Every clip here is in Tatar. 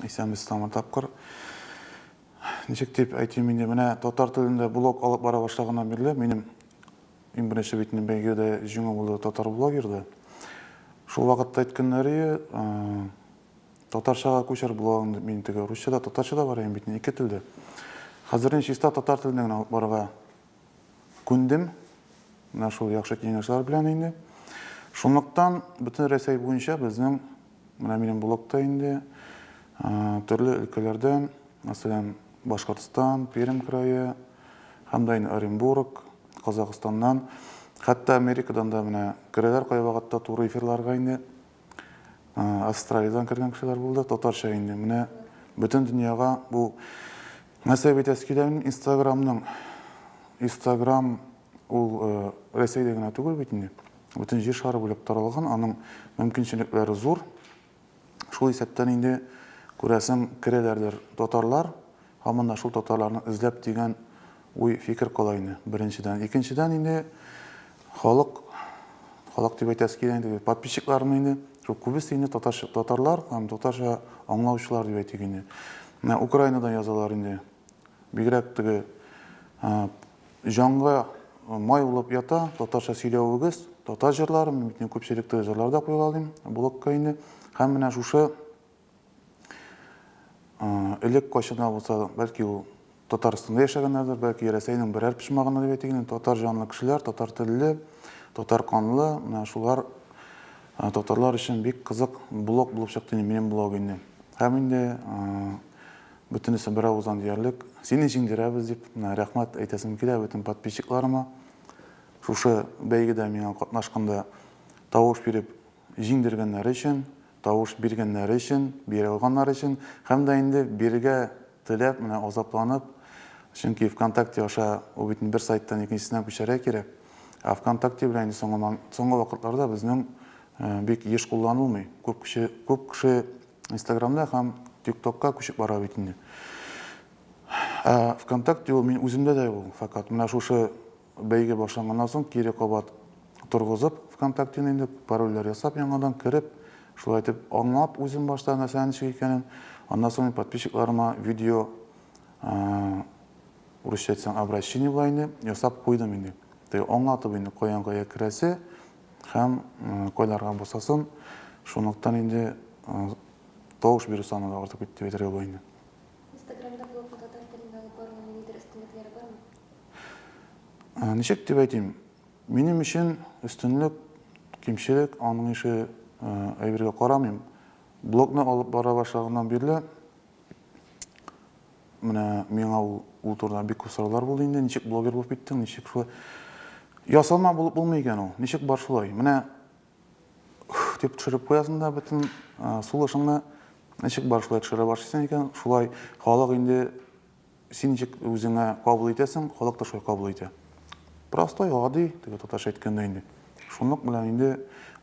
Исәнбез тагын тапкыр. Ничек дип әйтим инде, менә татар телендә блог алып бара башлаганнан бирле минем иң беренче бит инде бәйгедә җиңү булды татар блогерда. Шул вакытта әйткәннәре татарчага күчер блогын дип мин теге русча да татарча да бар бит ике телдә. Хәзер инде чиста татар телендә генә алып барырга күндем. Менә шул яхшы киңәшләр белән инде. Шунлыктан бөтен Рәсәй буенча безнең Менә минем блогта инде төрле өлкәләрдән, мәсәлән, Башкортстан, Пермь крае, һәм дә инде Оренбург, Казахстаннан, хәтта Америкадан да менә керәләр кайвакытта туры эфирларга инде. Австралиядән кергән кешеләр булды, татарча инде. Менә бөтен дөньяга бу нәрсә бит әскидән Инстаграмның Инстаграм Ул Рәсәйдә генә түгел бит инде, бөтен Җир шары буйлап таралган, аның мөмкинчелекләре зур. Шул исәптән инде, күрәсең, керәләрдер татарлар, һаман да шул татарларны эзләп дигән уй, фикер кала инде, беренчедән. Икенчедән инде, халык, халык дип әйтәсе килә инде, подписчикларны инде, шул күбесе инде татарча, татарлар һәм татарча аңлаучылар дип әйтик инде. Менә Украинадан язалар инде, бигрәк теге Җанга май булып ята татарча сөйләвегез, татар җырлары, мин бит инде күпчелекте җырлар да куйгалыйм, блогка инде. Һәм менә шушы элек кайчанда булса, бәлки ул Татарстанда яшәгәннәрдер, бәлки Рәсәйнең берәр почмагында дип әйтик инде, татар җанлы кешеләр, татар телле, татар канлы, менә шулар татарлар өчен бик кызык блог булып чыкты инде минем блог инде. Һәм инде Бөтенесе беравыздан диярлек, сине җиңдерәбез дип, менә рәхмәт әйтәсем килә бөтен подписчикларыма. Шушы бәйгедә миңа катнашканда тавыш биреп җиңдергәннәре өчен, тавыш биргәннәре өчен, бирә алганнары өчен һәм дә инде бирергә теләп, менә азапланып, чөнки ВКонтакте аша ул бит инде бер сайттан икенчесенә күчәргә кирәк. Ә ВКонтакте белән инде соңгы вакытларда безнең бик еш кулланылмый. Күп кеше, күп кеше Инстаграмда һәм ТикТокка күчеп бара бит инде. Ә ВКонтакте ул мин үземдә дә ул, факат менә шушы бәйге башланганнан соң кире кабат торгызып ВКонтактены инде парольләр ясап яңадан кереп, шулай итеп аңлап үзем башта нәрсә ничек икәнен, аннан соң подписчикларыма видео урысча әйтсәң обращение була инде, ясап куйдым инде. Теге аңлатып инде каян кая керәсе, Һәм койларга бусасын, шунлыктан инде тавыш бирү саны да артып китте дип әйтергә була инде. Инстаграмда блог һәм татар телендә алып баруның ниндидер өстенлекләре бармы? Ничек дип әйтим, минем өчен өстенлек, кимчелек, аның ише әйбергә карамыйм. Блогны алып бара башлаганнан бирле, Менә миңа ул, ул турыда бик күп сораулар булды инде, ничек блогер булып киттең, ничек шулай? Ясалма булып булмый икән ул. Ничек бар шулай? Менә дип төшереп куясың да бөтен сулышыңны ничек бар шулай төшерә башлыйсың икән, шулай халык инде син ничек үзеңә кабул итәсең, халык та шулай кабул итә. Простой, гади, теге татарча әйткәндә инде. Шунлык белән инде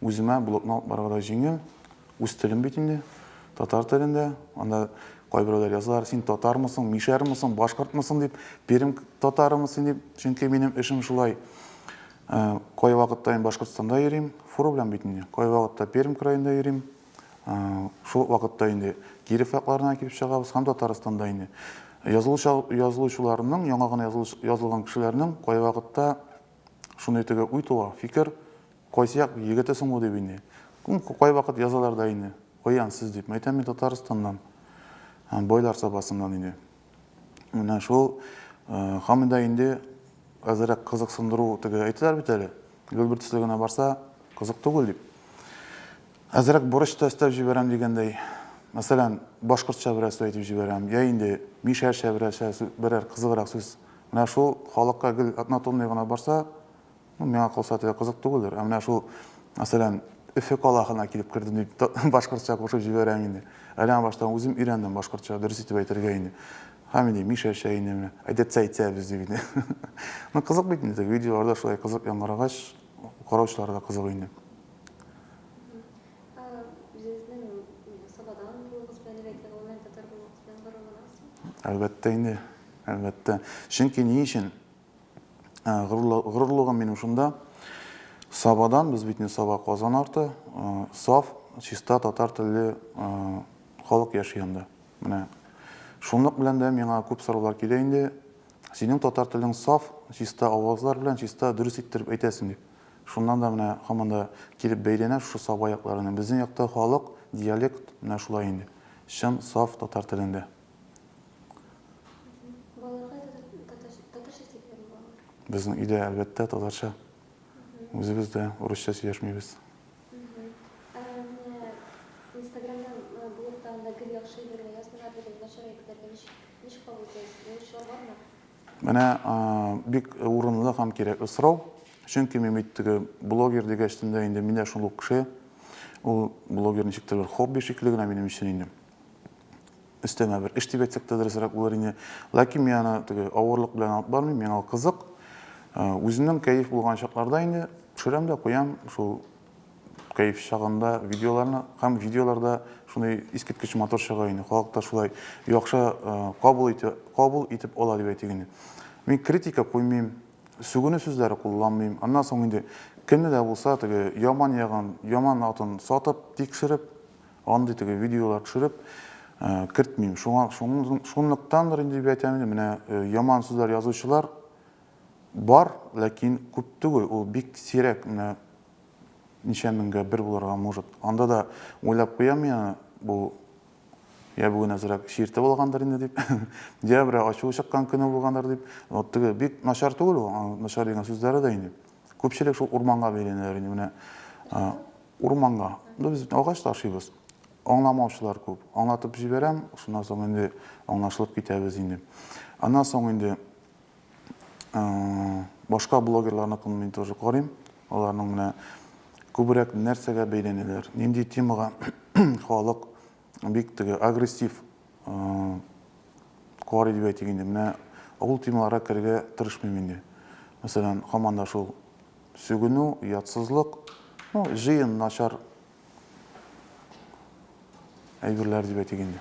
үземә блогны алып барырга да җиңел. Үз телем бит инде, татар телендә. Анда кайберәүләр язалар, син татармысың, мишәрмысың, башкортмысың дип, пермь татарымы син дип. Чөнки минем эшем шулай. Э, кай вакытта мин Башкортстанда йөрим, фуру белән бит инде. Кай вакытта Пермь краенда йөрим. Э, шул вакытта инде Киров якларына килеп чыгабыз һәм Татарстанда инде. Язылучыларның, яңа гына язылган кешеләрнең кай вакытта Шундый теге уй туа, фикер, Кайсы як егете соң бу дип инде. Кайвакыт язалар да инде, Каян сез дип. Әйтәм, мин Татарстаннан, Байлар Сабасыннан инде. Менә шул Хамида инде әзерәк кызыксындыру теге әйтәләр бит әле. Гөлбер төсле генә барса, кызык түгел дип. Әзерәк борыч та өстәп җибәрәм дигәндәй. Мәсәлән, башкортча берәр сүз әйтеп җибәрәм, я инде мишәрчә берәр сүз, берәр кызыграк сүз Менә шул халыкка гел однотонный гына барса, ну, миңа калса, теге кызык түгелдер. Ә менә шул, мәсәлән, Өфе калахына килеп кердем дип, башкортча кушып җибәрәм инде. Әле баштан үзем өйрәндем башкортча, дөрес итеп әйтергә инде. Һәм инде Мишәчә инде менә, әйдәтсә әйтсәбез дип инде. Ну, кызык бит инде, видеоларда шулай кызык яңгырагач, караучылар да кызык инде. Әлбәттә инде. Әлбәттә. Чөнки ни өчен? Ә, горурлы- Горурлыгым минем шунда. Сабадан, без бит не Саба, Казан арты, э, саф, чиста татар телле э, халык яши анда. Менә шунлык белән дә миңа күп сораулар килә инде. Синең татар телең саф, чиста авазлар белән чиста дөрес иттереп әйтәсең дип. Шуннан да менә һаман да килеп бәйләнә шушы Саба якларына. Безнең якта халык, диалект менә шулай инде. Чын, саф татар телендә. Безнең өйдә әлбәттә татарча. Үзебез дә урысча сөйләшмибез. Менә бик урынлы һәм кирәкле сорау. Чөнки мин бит теге блогер дигәч тендә инде мин дә шул ук кеше. Ул блогер ничектер бер хобби шикелле генә минем өчен инде. өстәмә бер эш дип әйтсәк тә дөресрәк булыр иде. Ләкин мин аны теге авырлык белән алып бармыйм, миңа кызык. Э, үземнең кәеф булган чакларда инде төшерәм дә куям шул кәеф чагында видеоларны һәм видеоларда шундый искиткеч матур чыга инде. Халык та шулай яхшы э, кабул итә, кабул итеп ала дип әйтик инде. Мин критика куймыйм, сүгенү сүзләре кулланмыйм. Аннан соң инде кемне дә булса теге яман ягын, яман атын сатып, тикшереп, Андый теге видеолар төшереп кертмим. Шуңа шунлыктандыр инде дип әйтәм инде. Менә яман сүзләр язучылар бар, ләкин күп түгел. Ул бик сирәк. Менә ничә меңгә бер булырга может. Анда да уйлап куям мин бу я бүген әзрәк чиртеп алгандыр инде дип, я берәү ачуы чыккан көне булгандыр дип. Вот теге бик начар түгел ул, начар дигән сүзләре дә инде. Күпчелек шул урманга бәйләнәләр инде. Менә Урманга. Ну без бит агач ташыйбыз. Аңламаучылар күп. Аңлатып җибәрәм, шуннан соң инде аңлашылып китәбез инде. Аннан соң инде башка блогерларныкын мин тоже карыйм. Аларның менә күбрәк нәрсәгә бәйләнәләр, нинди темага халык бик теге агрессив кар дип әйтик инде менә ул темаларга керергә тырышмыйм инде мәсәлән һаман да шул сүгенү ятсызлык ну җыен начар әйберләр дип әйтик инде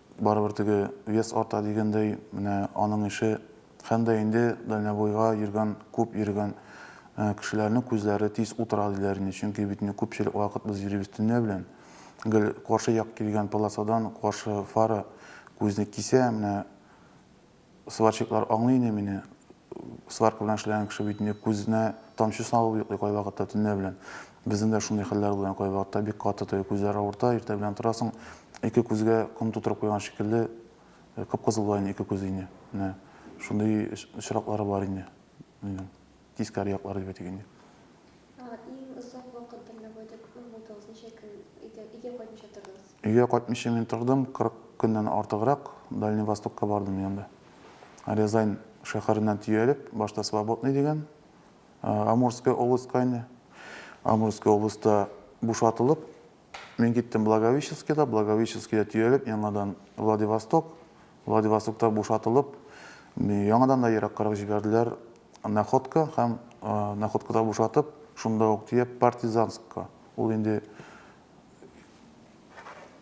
Барыбер теге вес арта дигәндәй, менә аның ише һәм дә инде дальнобойга йөргән, күп йөргән кешеләрнең күзләре тиз утыра диләр инде, чөнки бит инде күпчелек вакыт без йөрибез төнлә белән. Гел каршы як килгән полосадан каршы фара күзне кисә, менә Сварщиклар аңлый иде мине. Сварка белән эшләгән кеше бит инде күзенә тамчы салып йоклый кайвакытта төнлә белән. Безнең дә шундый хәлләр була, кайвакытта бик каты теге күзләр авырта, иртә белән торасың, ике күзгә ком тутырып куйган шикелле, кып-кызыл була инде ике күзе инде. Менә шундый очраклары бар инде. Әйе. Тискәре яклары дип әйтик инде. Иң озак вакыт дальнобойда күпме булдыгыз? Ничә көн өйдә, өйгә кайтмыйча тордыгыз? Өйгә кайтмыйча мин тордым, 40 көннән артыграк Дальний Востокка бардым мин анда. Рязань шәһәреннән төялеп, башта Свободный дигән, Амурская областька инде. Амурская областьта бушатылып, Мин киттем Благовещенскида, Благовещенскида төялеп, яңадан Владивосток, Владивостокта бушатылып, яңадан да ераккарак җибәрделәр Находка һәм Находкада бушатып, шунда ук төяп Партизанскка. Ул инде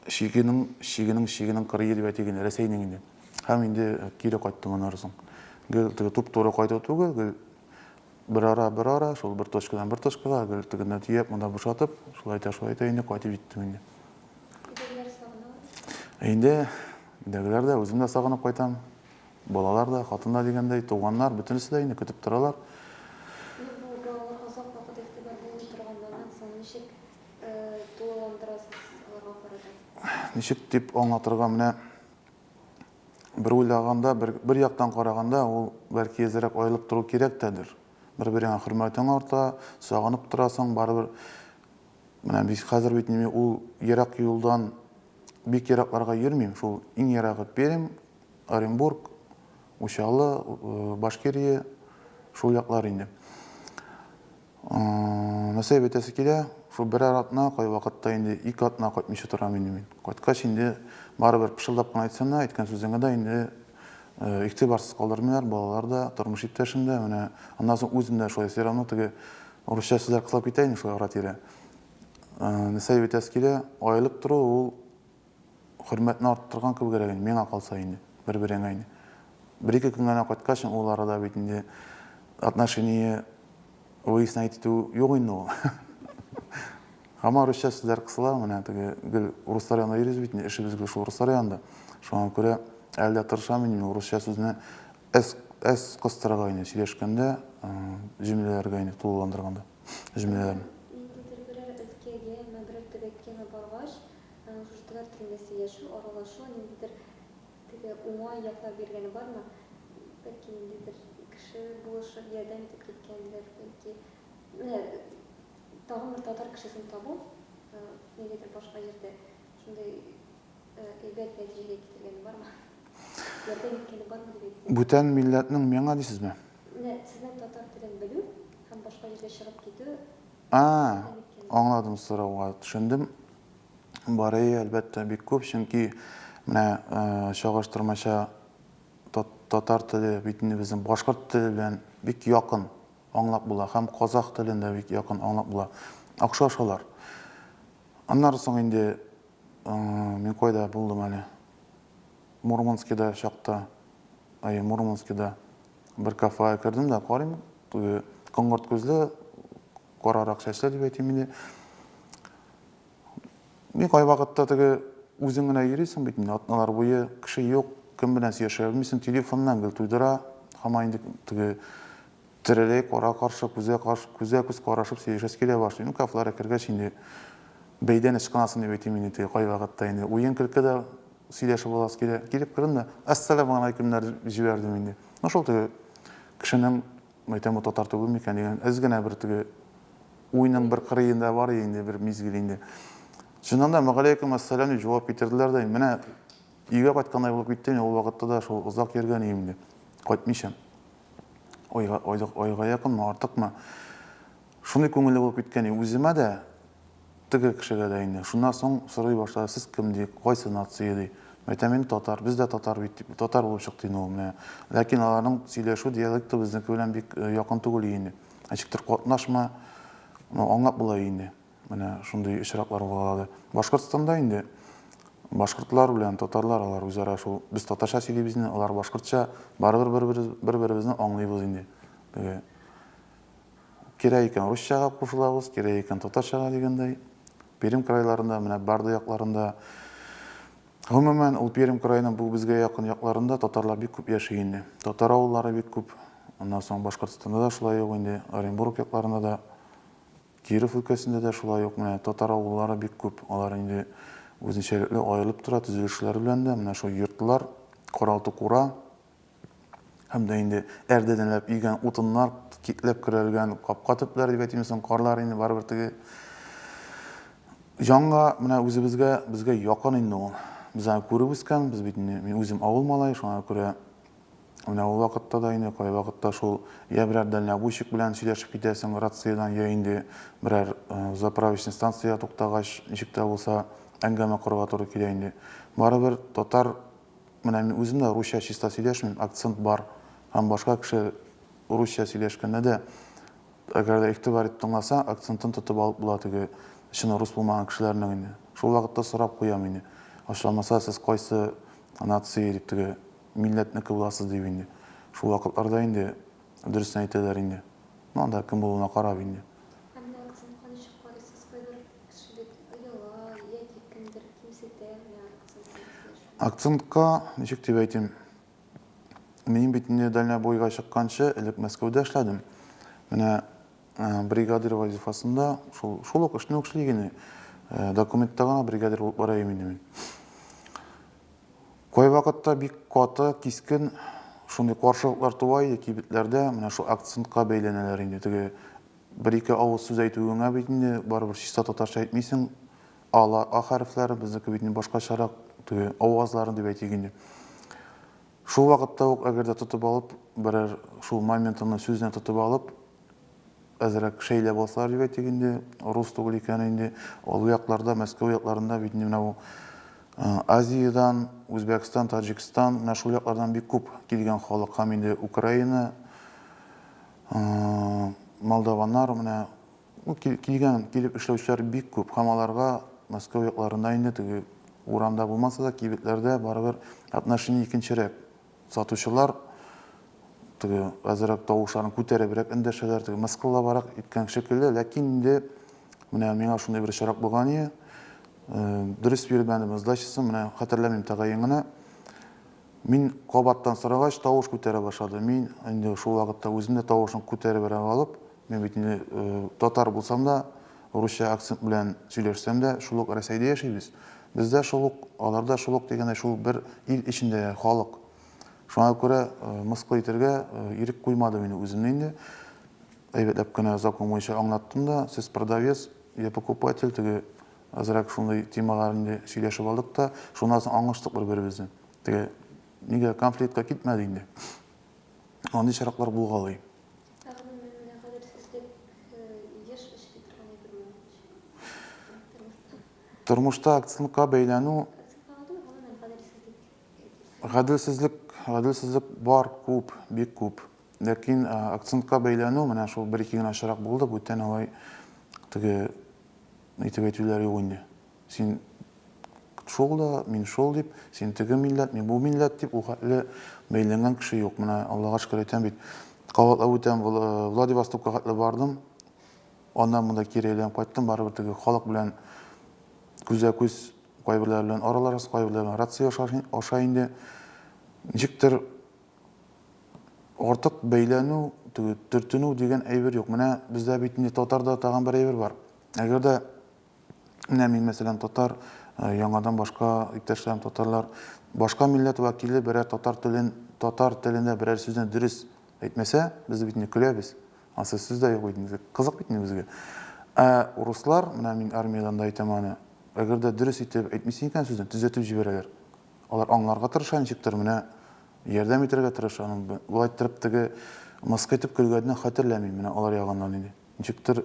чигенең, чигенең, чигенең 47 бәти генә, Рәсәйнең инде. Һәм инде кире кайттым аннары соң. Гел теге туп-туры кайту түгел, гел Берара, берара, шул бер точкадан бер точкага, гел тегеннән төяп, монда бушатып, шулай итә, шулай итә, инде кайтып җиттем инде. Инде өйдәгеләр дә, үзем дә сагынып кайтам. Балалар да, хатын да дигәндәй, туганнар, бөтенесе дә инде көтеп торалар. Ничек дип аңлатырга, менә бер уйлаганда, бер, бер яктан караганда, ул бәлки әзрәк аерылып тору кирәк тәдер. Бер-береңә хөрмәтең арта, сагынып торасың, барыбер менә бит хәзер бит мин ул ерак юлдан бик еракларга йөрмим, шул иң ерагы Пермь, Оренбург, Учалы, э, Башкирия, шул яклар инде. Насыйп итәсе килә, шул берәр атна, кайвакытта инде ике атна кайтмыйча торам инде мин. Кайткач инде барыбер пышылдап кына әйтсәң дә, әйткән сүзеңә дә инде игътибарсыз калдырмыйлар, балалар да, тормыш иптәшем дә, менә аннан соң үзем дә шулай все равно теге урысча сүзләр кысылып китә инде шулай ара-тирә. Насыйп итәсе килә, аерылып тору ул Хөрмәтне арттырган кебегрәк инде, миңа калса инде, бер-береңә инде. Бер-ике көн генә кайткач, ул арада бит инде отношение выяснять итү юк инде ул. Һаман русча сүзләр кысыла, менә теге гел урыслар янында йөрибез бит инде, эшебез гел шул урыслар янында. Шуңа күрә әле дә тырышам инде урысча сүзне әз әз кыстырырга инде сөйләшкәндә, җөмләләргә инде тулыландырганда җөмләләрне. Ниндидер берәр өлкәгә, мәгәр төбәккәме баргач, Гражданнар төрмәсе, яшәү, аралашу, ниндидер теге уңай яклар биргәне бармы? Бәлки ниндидер кеше булышып ярдәм итеп киткәндер, бәлки менә тагын бер татар кешесен табу нигәдер башка җирдә шундый әйбәт нәтиҗәгә китергәне бармы? Ярдәм иткәне бармы дип әйтсәм. Бүтән милләтнең миңа дисезме? Менә сезнең татар телен белү һәм башка җиргә чыгып китү. А, аңладым сорауга, төшендем. Барыи, әлбәттә, бик күп, чөнки менә чагыштырмача татар теле бит инде безнең башкорт теле белән бик якын аңлап була һәм казах телен дә бик якын аңлап була. Охшаш алар. Аннары соң инде мин кайда булдым әле? Мурманскида чакта, әйе, Мурманскида бер кафега кердем дә карыйм, теге коңгырт күзле Карарак чәчләр дип әйтим инде. Ни кайвакытта теге үзең генә йөрисең бит инде, атналар буе кеше юк, кем белән сөйләшә белмисең, телефоннан гел туйдыра, һаман инде теге тереләй кара каршы күзгә каршы күзгә күз карашып сөйләшәсе килә башлый. Ну, кафлара кергәч инде бәйдән ычкынасың дип әйтим инде теге кайвакытта инде. Уен көлке дә сөйләшеп аласы килә. Килеп кердем дә, ассаламу алейкумнар җибәрдем инде. Ну, шул теге кешенең Мәйтәм, бу татар түгел микән дигән әз генә бер теге уйның бер кырыенда бар иде инде бер мизгел инде. Чыннан да, мәгаләйкүм әссәлам дип җавап китерделәр дә, менә өйгә кайткандай булып киттем, мин ул вакытта да шул озак йөргән идем инде, кайтмыйча. Айга, айга якынмы, артыкмы. Шундый күңелле булып киткән үземә дә, теге кешегә дә инде. Шуннан соң сорый башлады, Сез кем? ди. Кайсы нация? ди. Мин әйтәм, мин татар. Без дә татар бит, дип, татар булып чыкты инде ул. Менә. Ләкин аларның сөйләшү диалекты безнеке белән бик якын түгел инде. Ничектер катнашма, ну, аңлап була инде. Менә шундый очраклар булгалады. Башкортстанда инде башкортлар белән татарлар алар үзара шул, без татарча сөйлибез инде, алар башкортча, барыбер бер-беребезне аңлыйбыз инде. Теге Кирәк икән русчага кушылабыз, кирәк икән татарчага дигәндәй. Пермь крайларында, менә Бардо якларында, гомумән, ул Пермь краеның бу безгә якын якларында татарлар бик күп яши инде. Татар авыллары бик күп. Аннан соң Башкортстанда да шулай ук инде, Оренбург якларында да, Киров өлкәсендә дә шулай ук менә татар авыллары бик күп. Алар инде үзенчәлекле аерылып тора, төзелешләре белән дә. Менә шул йортлар, каралты-кура, Һәм дә инде әрдәнәләп өйгән утыннар, китләп көрәлгән капка төпләре дип әйтимме соң, карлар инде барыбер теге җанга, менә үзебезгә, безгә якын инде ул. Без аны күреп үскән, без бит инде, мин үзем авыл малае, шуңа күрә менә ул вакытта да инде кайвакытта шул я берәр дальнобойщик белән сөйләшеп китәсең рациядән, я инде берәр э, заправочный станциягә туктагач, ничек тә булса әңгәмә корырга туры килә инде. Барыбер татар Менә мин үзем дә русча чиста сөйләшмим, акцент бар һәм башка кеше русча сөйләшкәндә дә, әгәр дә игътибар итеп тыңласа, акцентын тотып алып була теге чын рус булмаган кешеләрнең инде. Шул вакытта сорап куям инде, ачуланмаса, сез кайсы нации дип теге милләтнеке буласыз дип инде. Шул вакытларда инде дөресен әйтәләр инде. Ну анда кем булуына карап инде. Ә менә акцентка ничек карыйсыз? Кайбер кеше бит ояла яки кемдер кимсетә менә акцент белән сөйләшү. Акцентка, ничек дип әйтим, мин бит инде дальнобойга чыкканчы, элек Мәскәүдә эшләдем. Менә бригадир вазифасында шул, шул ук эшне эшли генә. Документта гына бригадир булып бара инде мин. Кайвакытта бик каты, кискен шундый каршылыклар туа иде кибетләрдә, менә шул акцентка бәйләнәләр инде. Теге бер-ике авыз сүз әйтүеңә бит инде барыбер чиста татарча әйтмисең, ала а хәрефләре, безнеке бит инде башкачарак, теге авазларын дип әйтик инде. Шул вакытта ук, әгәр дә тотып алып, берәр шул моментымны сүзне тотып алып, әзрәк шәйләп алсалар дип әйтик инде, рус түгел икән инде, олы якларда, Мәскәү якларында бит инде менә бу Азиядән, Үзбәкстан, Таҗикстан, менә шул яклардан бик күп килгән халык һәм инде Украина, молдаваннар менә Килгән, килеп эшләүчеләр бик күп һәм аларга Мәскәү якларында инде теге урамда булмаса да, кибетләрдә барыбер отношение икенчерәк. Сатучылар теге әзерәк тавышларын күтәребрәк эндәшәләр, теге мыскыллабарак иткән шикелле, ләкин инде менә миңа шундый бер очрак булган иде. Дөрес бирмәдем сдачасын, менә хәтерләмим тәгаен генә. Мин кабаттан сорагач, тавыш күтәрә башлады. Мин инде шул вакытта үзем дә тавышын күтәребрәк алып, Мин бит инде татар булсам да, русча акцент белән сөйләшсәм дә, шул ук Рәсәйдә яшибез. Бездә шул ук, аларда шул ук дигәндәй, шул бер ил эчендә халык. Шуңа күрә мыскыл итәргә ирек куймадым инде үземне инде. Әйбәтләп кенә закон буенча аңлаттым да, сез продавец, я покупатель, теге азрак шундый темалар инде сөйләшеп алдык та, шуннан соң аңлаштык бер-беребезне. Теге нигә конфликтка китмәде инде. Андый чираклар булгалый. Ә гомумән, менә кадерсезлек еш очрый торган әйберме? Тормышта. Тормышта акцентка бәйләнү. Акцентка алдымы, гомумән кадерсезлек? Гаделсезлек, гаделсезлек бар, күп, бик күп. Ләкин акцентка бәйләнү, менә шул бер-ике генә очрак булды, бүтән алай теге итеп әйтүләр юк инде. Син шул да, мин шул дип, син теге милләт, мин бу милләт дип, ул хәтле бәйләнгән кеше юк. Менә Аллага шөкер әйтәм бит. Кабатлап үтәм, Владивостокка хәтле бардым. Аннан монда кире әйләнеп кайттым, барыбер теге халык белән күзгә-күз кайберләре белән араларыз, кайберләре белән рация аша инде. Ничектер артык бәйләнү, төртенү дигән әйбер юк. Менә бездә бит инде татарда тагын бер әйбер бар. Әгәр дә Менә мин, мәсәлән, татар, э, яңадан башка иптәшләрем татарлар. Башка милләт вәкиле берәр татар телен, татар телендә берәр сүзне дөрес әйтмәсә, без бит инде көләбез. Ансы сүз дә юк бит инде. Кызык бит инде безгә. Ә урыслар, менә мин армиядән дә әйтәм аны, әгәр дә дөрес итеп әйтмисең икән сүзне, төзәтеп җибәрәләр. Алар аңларга тырыша ничектер, менә ярдәм итәргә тырыша. Аның б- Болай торып теге мыскы итеп көлгәнне хәтерләмим, менә алар ягыннан иде. Ничектер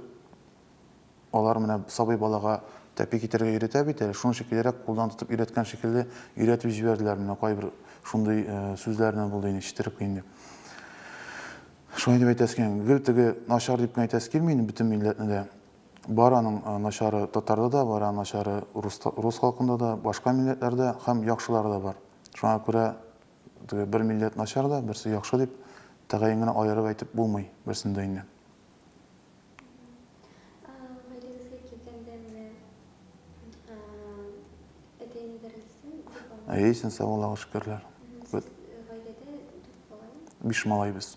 Алар менә сабый балага тәпи китерергә өйрәтә бит әле, шуның өчен килерәк кулдан тотып өйрәткән шикелле өйрәтеп җибәрделәр, менә кайбер шундый сүзләрне булды инде ишетереп инде. Шулай дип әйтәсе килми, гел теге начар дип кенә әйтәсе килми инде бөтен милләтне дә. Бар аның начары татарда да, бар аның начары рус халкында да, башка милләтләрдә һәм яхшылары да бар. Шуңа күрә теге бер милләт начар да, берсе яхшы дип тәгаен генә аерып әйтеп булмый берсен дә инде. Әйсен, сау Аллаһыга шөкерләр. Биш малай без.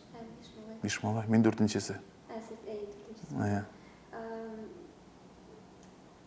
Биш малай. Мин дүртенчесе. Ә сез әйе дүртенчесе. Әйе.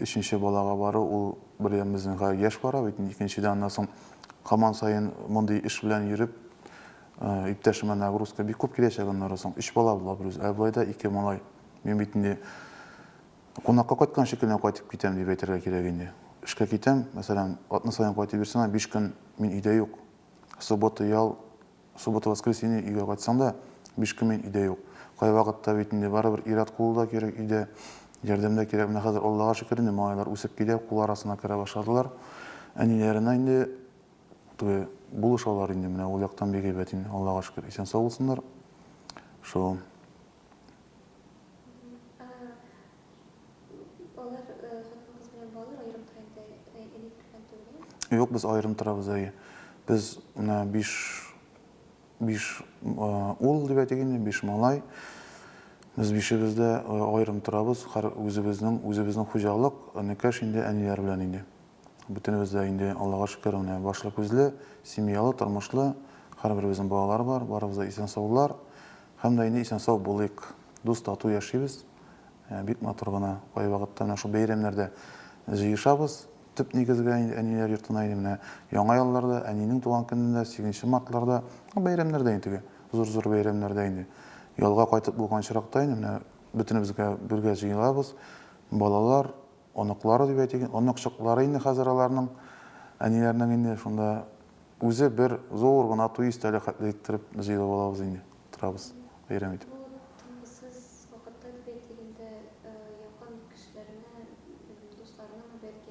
Өченче балага бару ул бер ям безнең га яшь бара бит инде, икенчедән аннан соң һаман саен мондый эш белән йөреп, иптәшемә нагрузка бик күп киләчәк аннары соң. Өч бала була берүзе, ә болай да ике малай. Мин бит инде кунакка кайткан шикелле кайтып китәм дип әйтергә кирәк инде. Эшкә китәм, мәсәлән, атна саен кайтып йөрсәм дә, биш көн мин өйдә юк. Суббота, ял, Суббота-воскресенье өйгә кайтсаң да, биш көн мин өйдә юк. Кайвакытта бит инде барыбер ир-ат кулы да кирәк өйдә, ярдәм дә кирәк. Менә хәзер, Аллага шөкер, инде малайлар үсеп килә, кул арасына керә башладылар. Әниләренә инде теге булышалар инде, менә ул яктан бик әйбәт инде, Аллага шөкер, исән-сау булсыннар. Шул. Юк, без аерым торабыз, әйе. Без менә биш, биш ул дип әйтик инде, биш малай. Без бишебез дә аерым торабыз, һәр үзебезнең, үзебезнең хуҗалык, энекәш инде әниләр белән инде. Бөтенебез дә инде, Аллага шөкер, менә башлы күзле, семьялы, тормышлы, һәрберебезнең балалары бар, барыбыз да исән-саулар һәм дә инде исән-сау булыйк, дус-тату яшибез, бик матур гына, кайвакытта менә шул бәйрәмнәрдә җыешабыз, төп нигезгә инде әниләр йортына инде менә Яңа елларда, әнинең туган көнендә, сигезенче мартларда, ну, бәйрәмнәрдә инде теге, зур-зур бәйрәмнәрдә инде. Ялга кайтып булган очракта инде менә бөтенебезгә бергә җыелабыз, балалар, Оныклары дип әйтик, оныкчыклары инде хәзер аларның, әниләренең инде шунда үзе бер зур гына туй өстәле хәтле иттереп җыелып алабыз инде, утырабыз, бәйрәм итеп. Ул тынгысыз вакытта дип әйтик инде, якын кешеләреңә, белмим, дусларыңамы, бәлки,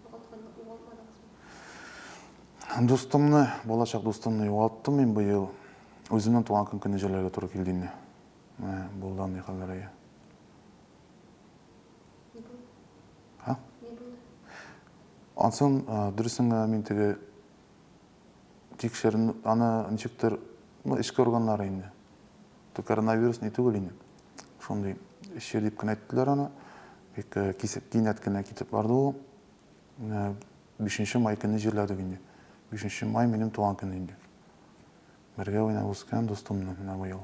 югалтканны югалтмадыгызмы? Дустымны, балачак дустымны югалттым мин быел. Үземнең туган көн көне җәлләргә туры килде инде. Менә булды андый хәлләр, әйе. Ни булды? Ха? Ни булды? Ансын дөресен генә мин теге тикшерен аны ничектер, ну, эчке органнары инде. То коронавирус ни түгел инде. Шундый эче дип кенә әйттеләр аны. Бик э, кисеп кинәт кенә китеп барды ул. Э, бишенче май көне җирләдек инде. Бишенче май минем туган көн инде. Бергә уйнап үскән дустымны менә быел.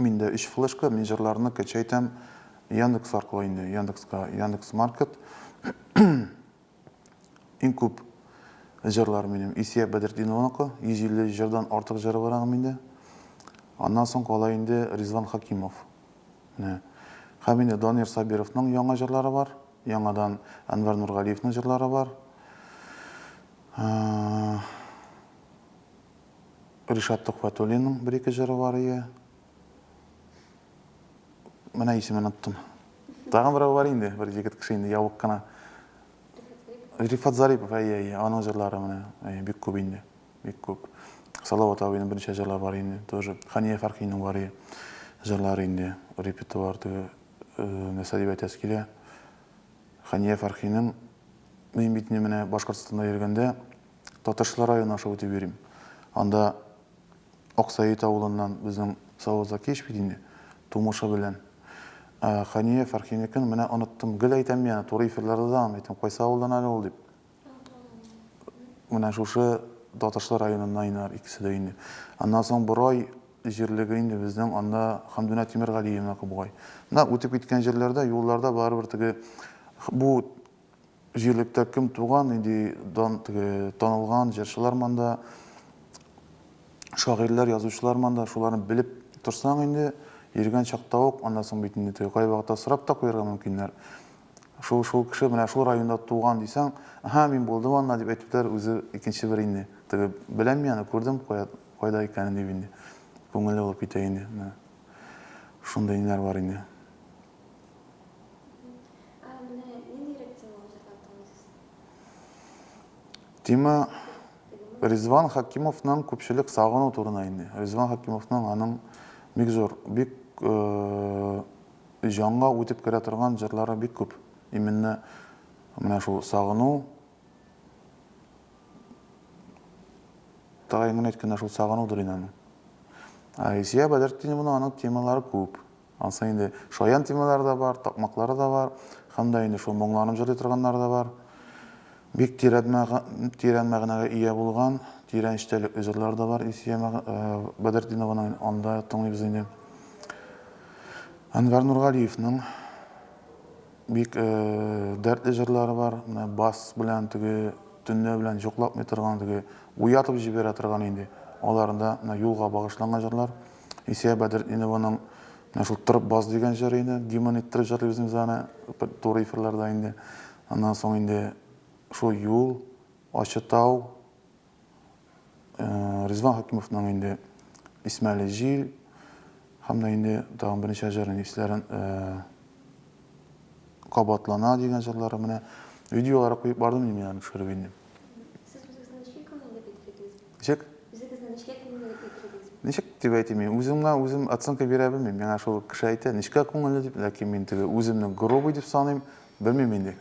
Миндә өч флешка, мин җырларны качайтам Яндекс аркылы инде, Яндекска, Яндекс Маркет. Иң күп җырлар минем Исия Бәдретдинованыкы, 150 җырдан артык җыры бар аның миндә. Аннан соң кала инде Ризван Хакимов. Менә. Һәм инде Данир Сабировның яңа җырлары бар, яңадан Әнвәр Нургалиевның җырлары бар. Ришат Төхвәтуллинның бер-ике җыры бар ие. Менә исемен оттым. Тагын берәү бар инде, бер егет кеше инде ябык кына. Рифат Зарипов, әйе, әйе, аның җырлары менә, әйе, бик күп инде, бик күп. Салават абыйның берничә җырлары бар инде, тоже Хания Фәрхинең бар ие җырлары инде, репертуар теге, нәрсә дип әйтәсе килә. Хәния Фәрхинең Мин бит ни менә Башкортстанда йөргәндә Татарчылар районы аша үтеп йөрим. Анда Аксаит авылыннан безнең Савыт Закиевич бит инде, тумышы белән. Ә Хәния Фәрхинекен менә оныттым. Гел әйтәм мин аны, туры эфирларда да аны әйтәм, кайсы авылдан әле ул дип. Менә шушы Татарчылар районыннан инде икесе дә инде. Аннан соң Борай җирлеге инде безнең, анда Хәмдүнә Тимергалиевныкы бугай. Менә үтеп киткән җирләрдә, юлларда барыбер теге бу җирлектә кем туган, нинди дан, теге танылган җырчылар монда, шагыйрьләр, язучылар монда, шуларны белеп торсаң инде, йөргән чакта ук, аннан соң бит инде теге кайвакытта сорап та куярга мөмкиннәр. Шул, шул кеше менә шул районда туган дисәң, Әһә, мин булдым анда, дип әйтүләр үзе икенче бер инде. Теге, беләм мин аны, күрдем кая, кайда икәнен, дип инде. Күңеле булып китә инде. Менә шундый ниләр бар инде. Ә менә ниндирәк тема узарга омтыласыз? Тема Ризван Хәкимовның күпчелек сагыну турында инде. Ризван Хәкимовның аның бик зур, бик җанга үтеп керә торган җырлары бик күп. Именно менә шул сагыну Тагын генә әйткәндә шул сагынудыр инде аның. Ә Илсөя Бәдертдиновна аның темалары күп. Ансы инде шаян темалары да бар, такмаклары да бар, һәм дә инде шул моңланып җырлый торганнары да бар. Бик тирән мәгънәгә ия булган, тирән эчтәлекле җырлар да бар Илсөя Бәдретдинованың, аны да тыңлыйбыз инде. Әнвәр Нургалиевның бик дәртле җырлары бар, менә бас белән теге төнлә белән йоклатмый торган, теге уятып җибәрә торган инде, аларында менә юлга багышланган җырлар. Исия Бәдретдинованың менә шул Тырып бас дигән җыры иде. Демон иттереп җырлыйбыз без аны туры эфирларда инде. Аннан соң инде шул юл, ачы тау, э, Ризван Хакимовның инде Исмәле җил һәм дә инде тагын берничә җырын исләрен э, кабатлана дигән җырлары менә видеолары куеп бардым мин аны төшереп инде. Ничек? Үзегезне нечкә күңелле дип әйтергез. Ничек дип әйтим мин? Үземгә үзем оценка бирә белмим. Миңа шул кеше әйтә, нечкә күңелле дип, ләкин мин теге үземне грубый дип саныйм, белмим инде.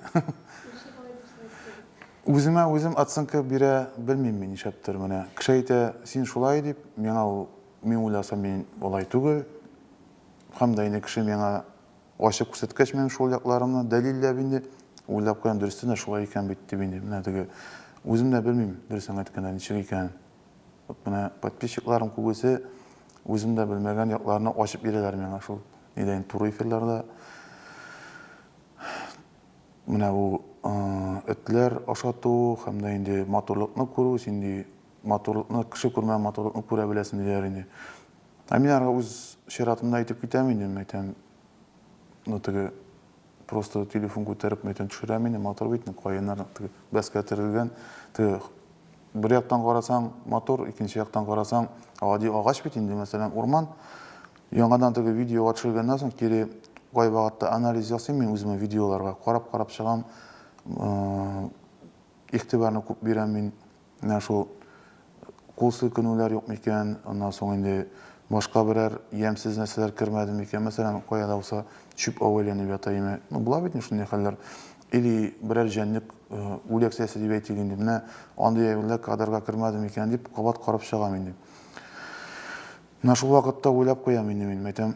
Үземә үзем оценка бирә белмим мин нишләптер менә. Кеше әйтә, син шулай дип, миңа ул мин уйласам мин алай түгел. Һәм дә инде кеше миңа Ачык күрсәткәч минем шул якларымны дәлилләп инде, уйлап куям, дөрестән дә шулай икән бит дип инде, менә теге, үзем дә белмим, дөресен әйткәндә, ничек икәнен. Вот менә подписчикларым күбесе үзем дә белмәгән якларны ачып бирәләр миңа шул нидә инде, туры эфирларда. Менә бу этләр ашату һәм дә инде матурлыкны күрү, син ди матурлыкны, кеше күрмәгән матурлыкны күрә беләсең диләр инде. Ә мин ары үз чиратымда әйтеп китәм инде, мәйтәм, ну теге просто телефон күтәреп мәйтәм төшерәм инде, матур бит, каеннар теге бәскә терелгән, теге бер яктан карасаң матур, икенче яктан карасаң гади агач бит инде, мәсәлән, урман. Яңадан теге видеога төшергәннән соң кире кайвакытта анализ ясыйм мин үземә видеоларга, карап-карап чыгам, игътибарны күп бирәм мин. менә шул кул селкенүләр юк микән, аннан соң инде башка берәр ямьсез нәрсәләр кермәде микән, мәсәлән, кая да булса чүп ау әйләнеп ята име, ну, була бит инде шундый хәлләр, или берәр җәнлек үләк сәясе дип әйтик инде, менә андый әйберләр кадрга кермәде микән дип, кабат карап чыгам инде. Менә шул вакытта уйлап куям инде мин, әйтәм,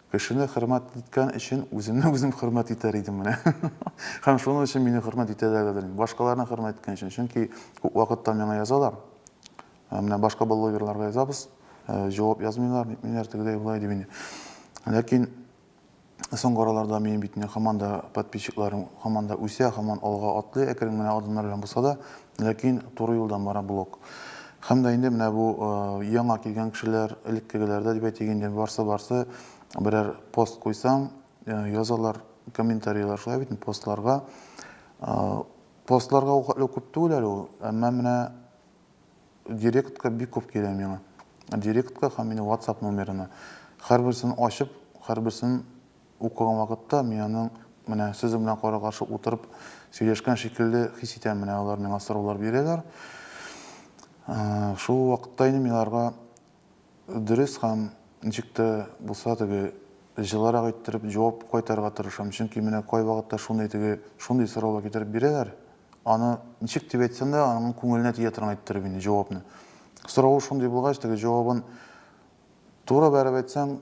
Кешене хөрмәт иткән өчен үземне үзем хөрмәт итәр идем менә. Һәм шуның өчен мине хөрмәт итәләрдер инде. Башкаларны хөрмәт иткән өчен. Чөнки күп вакытта миңа язалар. Ә менә башка блогерларга язабыз, ә, җавап язмыйлар, нитмиләр, тегедәй болай дип инде. Ләкин соңгы араларда минем бит инде һаман да подписчикларым һаман да үсә, һаман алга атлый, әкрен генә адымнар белән булса да, Ләкин туры юлдан бара блог. Һәм дә инде менә бу яңа килгән кешеләр, элеккегеләр дә дип әйтик инде, барсы-барсы берәр пост куйсаң, язалар комментарийлар, шулай бит, постларга. Постларга ук әле күп түгел әле ул, әмма менә директка бик күп килә миңа. Директка һәм мине WhatsApp номерына. Һәрберсен ачып, һәрберсен Укыган вакытта мин аның менә сезнең белән кара-каршы утырып сөйләшкән шикелле хис итәм, менә алар миңа сораулар бирәләр. Шул ук вакытта инде мин аларга дөрес һәм ничек тә булса теге җылырак иттереп җавап кайтарырга тырышам, чөнки менә кайвакытта шундый теге шундый сораулар китереп бирәләр, аны ничек дип әйтсәң дә аның күңеленә тия торган иттереп инде җавапны. Соравы шундый булгач, теге җавабын туры бәреп әйтсәң,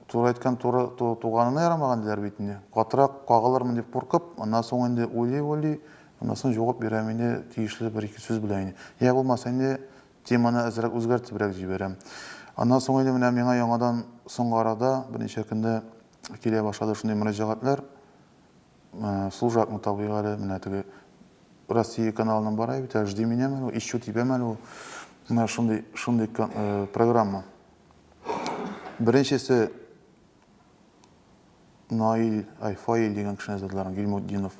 Туры әйткән туры туганына ярамаган диләр бит инде. Катырак кагылырмын дип куркып, аннан соң инде уйлый-уйлый, аннан соң җавап бирәм инде тиешле бер-ике сүз белән инде. Йә булмаса инде теманы әзрәк үзгәртебрәк җибәрәм. Аннан соң инде менә миңа яңадан соңгы арада берничә көндә килә башлады шундый мөрәҗәгатьләр. Э, служакны табыйк әле, менә теге Россия каналының бара бит әле, жди меня мәле, ищу тебя мәле. Менә шундый, шундый э, программа. Беренчесе Наиль Айфаиль дигән кешене эзләделәр, Гилмутдинов.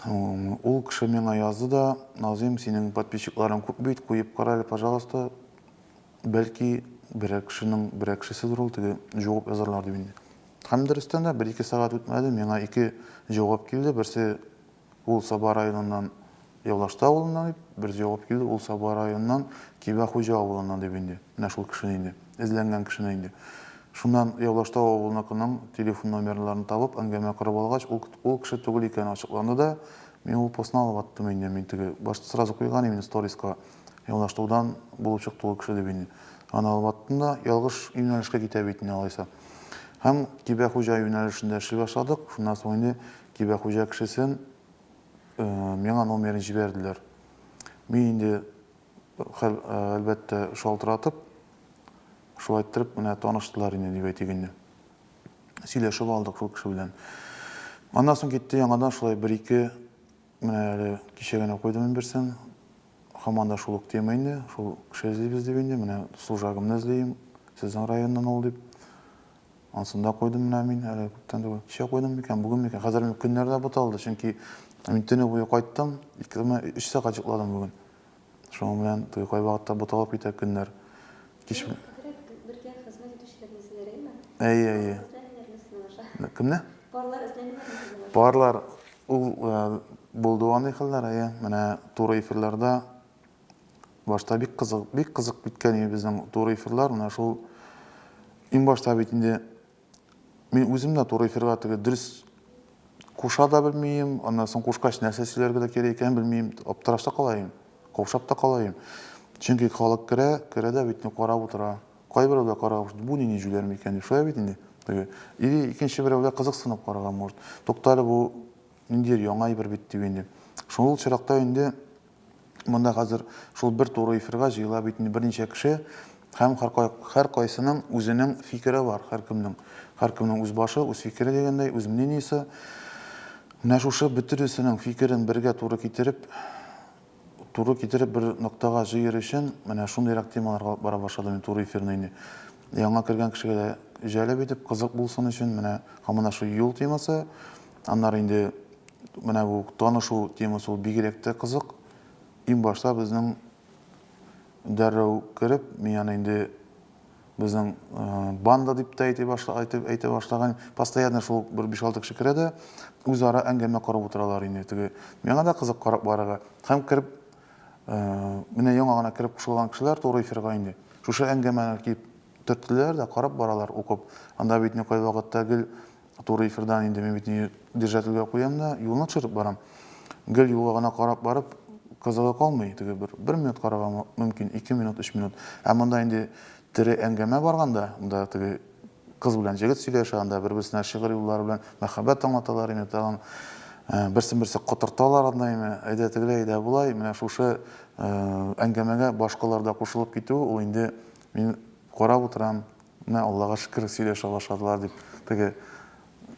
Ул кеше миңа язды да, Назим, синең подписчикларың күп бит, куеп кара әле, пожалуйста. Бәлки, берәр кешенең, берәр кешеседер ул, теге җавап язарлар дип инде. Һәм дөрестән дә, бер-ике сәгать үтмәде, миңа ике җавап килде. Берсе Ул Саба районыннан Явлашты авылыннан дип, берсе җавап килде, ул Саба районыннан Кибә Хуҗа авылыннан дип инде. Менә шул кешене инде, эзләнгән кешене инде. Шуннан Явлашты авылыныкының телефон номерларын табып, әңгәмә корып алгач, ул ул кеше түгел икәне ачыкланды да, мин ул постны алып аттым инде, мин теге, башта сразу куйган именно сториска, Явлаштудан булып чыкты ул кеше дип инде. Аны алып аттым да, ялгыш юнәлешкә китә бит инде алайса. Һәм Кибә Хуҗа юнәлешендә эшли башладык, шуннан соң инде Кибә хуҗа кешесен миңа номерын җибәрделәр. Мин инде, хәл, әлбәттә, шалтыратып, шулай иттереп, менә таныштылар инде, дип әйтик инде. Сөйләшеп алдык шул кеше белән. Аннан соң китте яңадан шулай бер-ике, менә әле кичә генә куйдым мин берсен. Хаман да шул ук тема инде, шул кеше эзлибез дип инде, менә служагымны эзлим, сезнең районнан ул дип. Ансын да куйдым менә мин әле күптән түгел. Кичә куйдым микән, бүген микән? Хәзер көннәр дә буталды, чөнки мин төне буе кайттым, ике генә өч сәгать йокладым бүген. Шуның белән теге кайвакытта буталып китә көннәр. Кич бел- Күбрәк бергә хезмәт итүчеләрне эзләгәйме? Әйе, әйе. Парлар эзләмиләрме сезнең аша? Кемне? Парлар эзләмиләрме сезнең аша? Парлар, ул э, булды андый хәлләр, әйе. Менә туры эфирларда Башта бик кызык, бик кызык киткән иде безнең туры эфирлар. Менә шул иң башта бит инде мин үзем дә туры эфирга теге дөрес куша да белмим, аннан соң кушкач нәрсә сөйләргә дә кирәк икәнен белмим, аптырашта кала идем, каушап та кала идем. Чөнки халык керә, керә дә бит инде карап утыра. Кайберәү дә карап, бу нинди җүләр микән дип, шулай бит инде. Теге или икенче берәү дә кызыксынып карарга может. Туктале бу ниндидер яңа әйбер бит дип инде. Шул чиракта инде Монда хәзер шул бер туры эфирга җыела бит инде берничә кеше һәм һәркайсының үзенең фикере бар, һәркемнең. Һәркемнең үз башы, үз фикере дигәндәй, үз мнениесе. Менә шушы бөтенесенең фикерен бергә туры китереп, туры китереп бер ноктага җыер өчен, менә шундыйрак темаларга алып бара башладым мин туры эфирны инде. Яңа кергән кешегә дә җәлеп итеп, кызык булсын өчен, менә һаман да шул юл темасы, Аннары инде менә бу танышу темасы ул бигрәк тә кызык. Иң башта безнең дәррәү кереп, мин аны инде безнең э, банда дип тә әйтә башла, әйтеп әйтә башлаган. Постоянно шул бер 5-6 кеше керә дә үзара әңгәмә корып утыралар инде теге. Миңа да кызык карап барырга. Һәм кереп э, менә яңа гына кереп кушылган кешеләр туры эфирга инде. Шушы әңгәмәне киеп төрттеләр дә карап баралар укып. Анда бит никай вакытта гел Туры эфирдан инде мин бит не держательгә куям да, юлны төшереп барам. Гел юлга гына карап барып, кызыгы калмый, теге бер, бер минут карарга мөмкин, ике минут, өч минут. Ә монда инде тере әңгәмә барганда, монда теге кыз белән җегет сөйләшә, анда бер-берсенә шигырь юллары белән мәхәббәт аңлаталар, инде тагын э, берсен-берсе котырталар андайны, әйдә тегеләй, әйдә болай, менә шушы э, әңгәмәгә башкалар да кушылып китү, ул инде мин карап утырам, Менә Аллага шөкер, сөйләшә башладылар дип, теге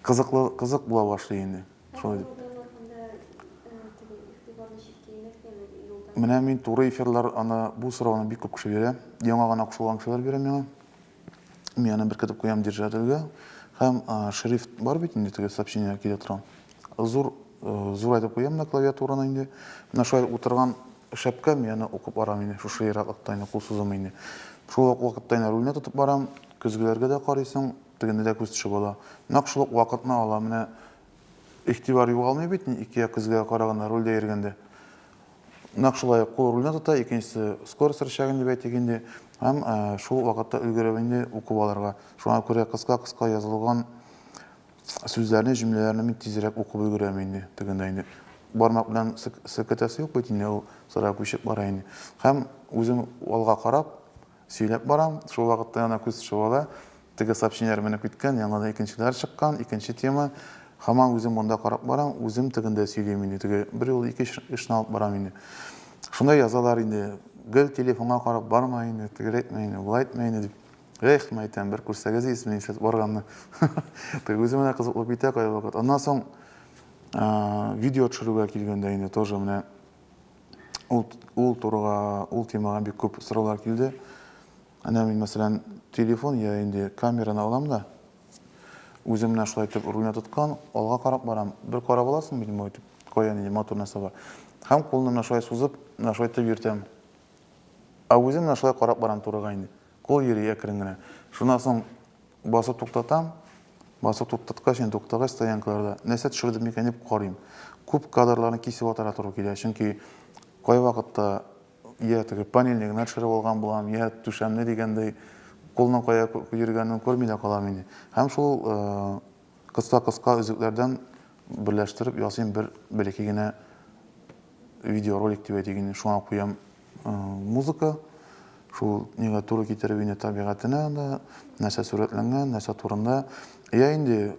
кызыклы, кызык була башлый инде. Шулай дип. Менә мин туры эфирлар аны бу сорауны бик күп кеше бирә. Яңа гына кушылган кешеләр бирә миңа. Мин аны беркетеп куям держателгә. Һәм шрифт бар бит инде теге сообщение килә торган. Зур Зурайтып куям да клавиатураны инде. Менә шулай утырган шәпкәм, яны укып барам инде, шушы ераклыкта инде кул сузым инде. Шул ук вакытта инде рульне тотып барам, көзгеләргә дә карыйсың, тегендә дә күз төшеп ала. Нәкъ шул ук вакытны ала, менә игътибар югалмый бит ни ике як көзгегә караганда рульдә йөргәндә. Нәкъ шулай кул рульне тота, икенчесе скорость рычагын дип әйтик инде, һәм шул вакытта өлгереп инде укып алырга. Шуңа күрә кыска-кыска язылган Сүзләрне, җөмләләрне мин тизрәк укып өлгерәм инде. Тегендә инде бармак белән селкетәсе юк бит инде, ул сыра күчеп бара инде. Һәм үзем алга карап сөйләп барам, шул вакытта ана күз чуала, теге сообщениеләр менеп киткән, яңадан икенчеләр чыккан, икенче тема. Һаман үзем монда карап барам, үзем тегендә сөйлим инде, теге бер юлы ике эшне алып барам инде. Шунда язалар инде, гел телефонга карап барма инде, тегеләйтмә инде, булайтмә инде дип. Эх, мен әйтәм, бер күрсәгез ис, мин сейчас барганны. Тый үзем менә кызыклы битә кая вакыт. Аннан соң видео төшерүгә килгәндә инде тоже менә ул ул турыга, ул темага бик күп сораулар килде. Әнә мин мәсәлән телефон я инде камераны алам да үзем менә шулай итеп рульне тоткан, алга карап барам. Бер карап аласың бит моңа итеп, кая нинди мотор нәрсә бар. Һәм кулны менә шулай сузып, менә шулай итеп йөртәм. Ә үзем менә шулай карап барам турыга инде. Кул йөри әкрен генә. Шуннан соң басып туктатам. Басып туктаткач, ин туктагач, стоянкаларда нәрсә төшерде микән дип карыйм. Күп кадрларны кисеп атарга туры килә, чөнки кайвакытта я теге панельне генә төшереп алган булам, я түшәмне дигәндәй кулның кая йөргәнен күрми дә калам инде. Һәм шул кыска-кыска өзекләрдән берләштереп ясыйм бер бәләкәй генә видеоролик дип әйтик инде, шуңа куям музыка. Шул нигә туры китереп инде табигатенә дә, нәрсә сурәтләнгән, нәрсә турында. Я инде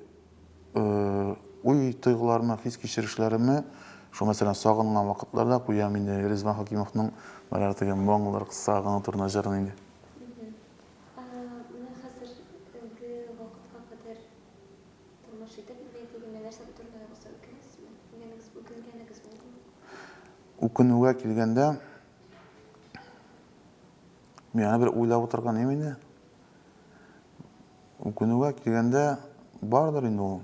уй тойгыларыма, хис кичерешләремә, шул мәсәлән сагынган вакытларда куям инде Ризван Хакимовның баягы теге моңлар сагыну турында җырын инде. Тормыш итеп бетми дигәндә нәрсә турында булса үкенәсезме? Үкенгәнегез, үкенгәнегез булдымы? Үкенүгә килгәндә, миңа бер уйлап утырган имени. Үкенүгә килгәндә бардыр инде ул.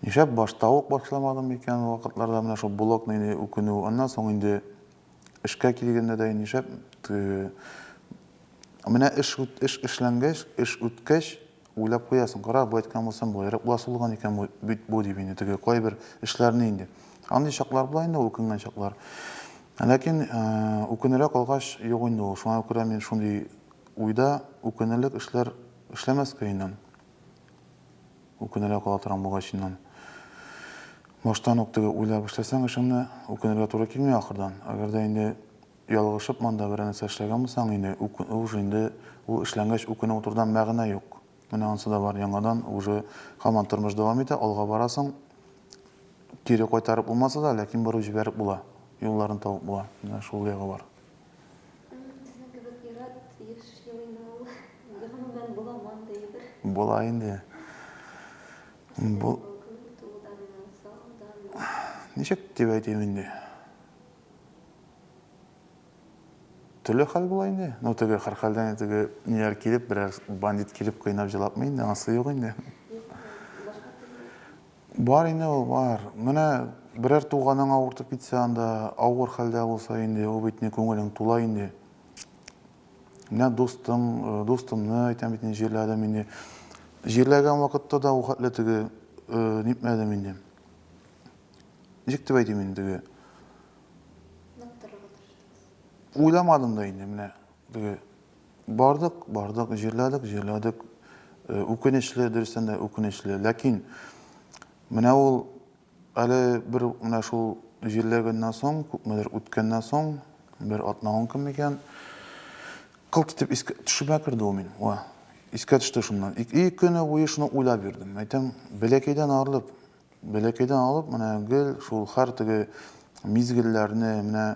Нишләп башта ук башламадым икән ул вакытларда менә шул блокны инде үкенү. Аннан соң инде эшкә килгәндә дә нишләп менә эш эш эшләнгәч, эш үткәч, Уйлап куясың, кара, бу әйткән булсам, болайрак буласы булган икән бит бу, дип инде, теге кайбер эшләрне инде. Андый чаклар була инде, үкенгән чаклар. Ләкин үкенерәк алгач, юк инде ул. Шуңа күрә мин шундый уйда үкенерлек эшләр эшләмәскә иннән. Үкенерәк ала торам булгач иннән. Баштан ук теге уйлап эшләсәң эшеңне, үкенергә туры килми ахырдан. Әгәр дә инде Ялгышып монда берәр нәрсә эшләгән булсаң иде, уж инде ул эшләнгәч үкенеп утырудан мәгънә юк. Менә ансы да бар, яңадан уже һаман тормыш дәвам итә, алга барасың. Кире кайтарып булмаса да, ләкин борып җибәреп була, юлларын табып була. Менә шул ягы бар. Безнең кебек ир-ат еш елыймы ул? Гомумән, буламы андый әйбер? Була инде. Сезнең кебек үк, тууданмы, сагынганмы? Ничек дип әйтим инде? Төрле хәл була инде. Ну, теге хәрхәлдән теге ниләр килеп, берәр бандит килеп кыйнап җылапмы инде, анысы юк инде. Бар инде ул, бар. Менә берәр туганың авыртып китсә анда, авыр хәлдә булса инде, ул бит не күңелең тула инде. Менә дустың, э, дустымны әйтәм бит инде җирләдем инде. Җирләгән вакытта да ул хәтле теге э, нитмәдем инде. ничек дип әйтим инде теге уйламадым да инде менә теге бардык бардык җирләдек җирләдек э, үкенечле дөрестән дә үкенечле ләкин менә ул әле бер менә шул җирләгәннән соң күпмедер үткәннән соң бер атна он көн микән кылт итеп искә төшемә керде ул мин ва искә төште шуннан ике көне буе шуны уйлап йөрдем әйтәм бәләкәйдән арылып Бәләкәйдән алып менә гел шул хәр теге мизгелләрне менә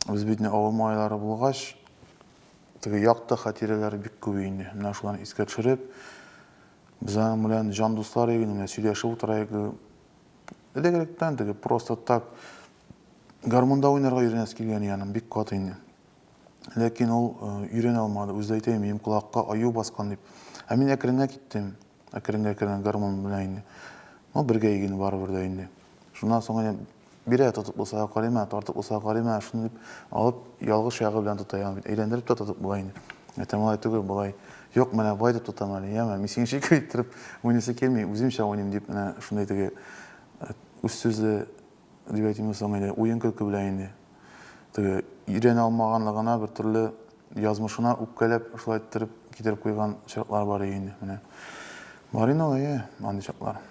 без бит не авыл малайлары булгач, теге якты хатирәләр бик күп инде. Менә шуларны искә төшереп, без аның белән җан дуслар иде, менә сөйләшеп утыраек. Элек-электән теге просто так гармунда уйнарга өйрәнәсе килгән иде аның бик каты инде. Ләкин ул өйрәнә алмады. Үзе әйтә, минем колакка аю баскан дип. Ә мин әкренләп киттем. Әкрен-әкрен гармун белән инде. Ну, бергә игене барыбер дә инде. Шуннан соң инде бирә тотып булса карыйма, тартып булса карыйма, шуны дип алып ялгыш ягы белән тота ягы. Әйләндереп тә тотып була инде. Әтәм алай түгел, болай. Юк, менә болай дип тотам әле, яме. Мин синеңчә икәү иттереп уйныйсы килми, үземчә уйныйм дип менә шундый теге э, үз сүзле дип әйтимме соң инде, уен-көлке белән инде. Теге өйрәнә алмаганлыгына бер төрле язмышына үпкәләп, шулай иттереп китереп куйган чаклар бар иде инде, менә. Бар инде ул, әйе, андый чаклар.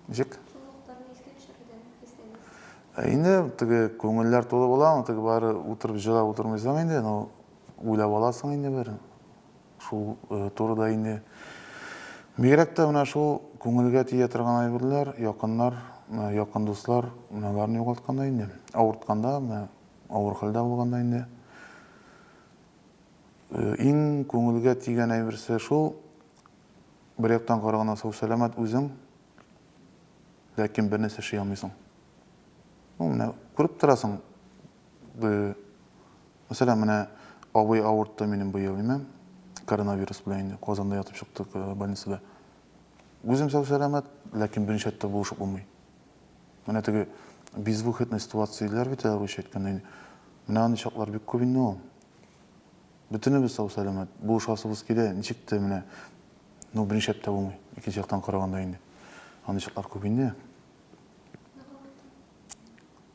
Ничек? Ә инде теге күңелләр тулы була, ул теге бары утырып җылап утырмыйсың инде, ну уйлап аласың инде бер. Шул турыда инде. Бигрәк тә менә шул күңелгә тия торган әйберләр, якыннар, якын дуслар, менә аларны югалтканда инде, авыртканда, менә авыр хәлдә булганда инде иң күңелгә тигән әйберсе шул, бер яктан караганда сау-сәламәт үзең, ләкин бернәрсә эшли алмыйсың. Ну, менә күреп торасың, Б. Мәсәлән, менә абый авыртты минем быел, димә, коронавирус белән инде Казанда ятып чыктык э, больницада. Үзем сау-сәламәт, ләкин беренче рәттә булышып булмый. Менә теге безвыходный ситуацияләр бит әле русча әйткәндә инде. Менә андый чаклар бик күп инде ул. Бөтенебез сау-сәламәт, булышасыбыз килә, ничек тә менә, ну, беренче рәттә булмый, икенче яктан караганда инде. Андый чаклар күп инде.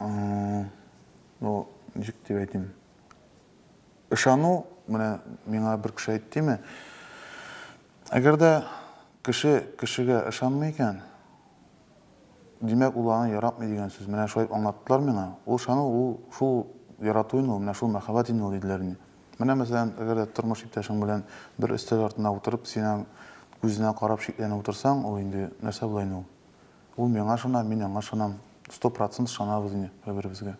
Ну, ничек дип әйтим? Ышану, менә миңа бер кеше әйттеме, әгәр дә кеше кешегә ышанмый икән, димәк, ул аны яратмый дигән сүз. Менә шулай аңлаттылар миңа. Ул ышану, ул шул ярату инде, менә шул мәхәббәт инде ул диделәр инде. Менә, мәсәлән, әгәр дә тормыш иптәшең белән бер өстәл артына утырып, синең күзенә карап шикләнеп утырсаң, ул инде нәрсә була инде ул? Ул миңа ышана, мин аңа ышанам. Сто процент ышанабыз инде бер-беребезгә.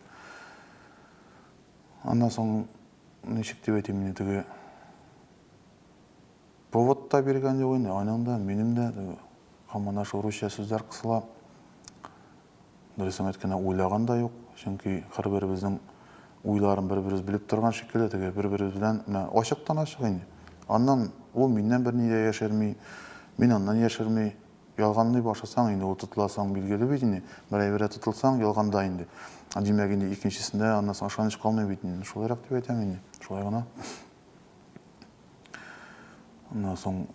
Аннан соң, ничек дип әйтим инде, теге повод та биргән юк инде, аның да, минем дә теге командаш урысча сүзләр кысыла. Дөресен әйткәндә, уйлаган да юк, чөнки һәрберебезнең уйларын бер-беребез белеп торган шикелле, теге бер-беребез белән менә ачыктан-ачык инде. Аннан ул миннән берни дә яшерми, мин аннан яшерми. Ялганлый башласаң инде, ул тотыла соң билгеле бит инде. Бер әйбергә тотылсаң, ялганда инде. Димәк инде, икенчесендә аннан соң ышаныч калмый бит инде. Шулайрак дип әйтәм инде. Шулай гына. Аннан соң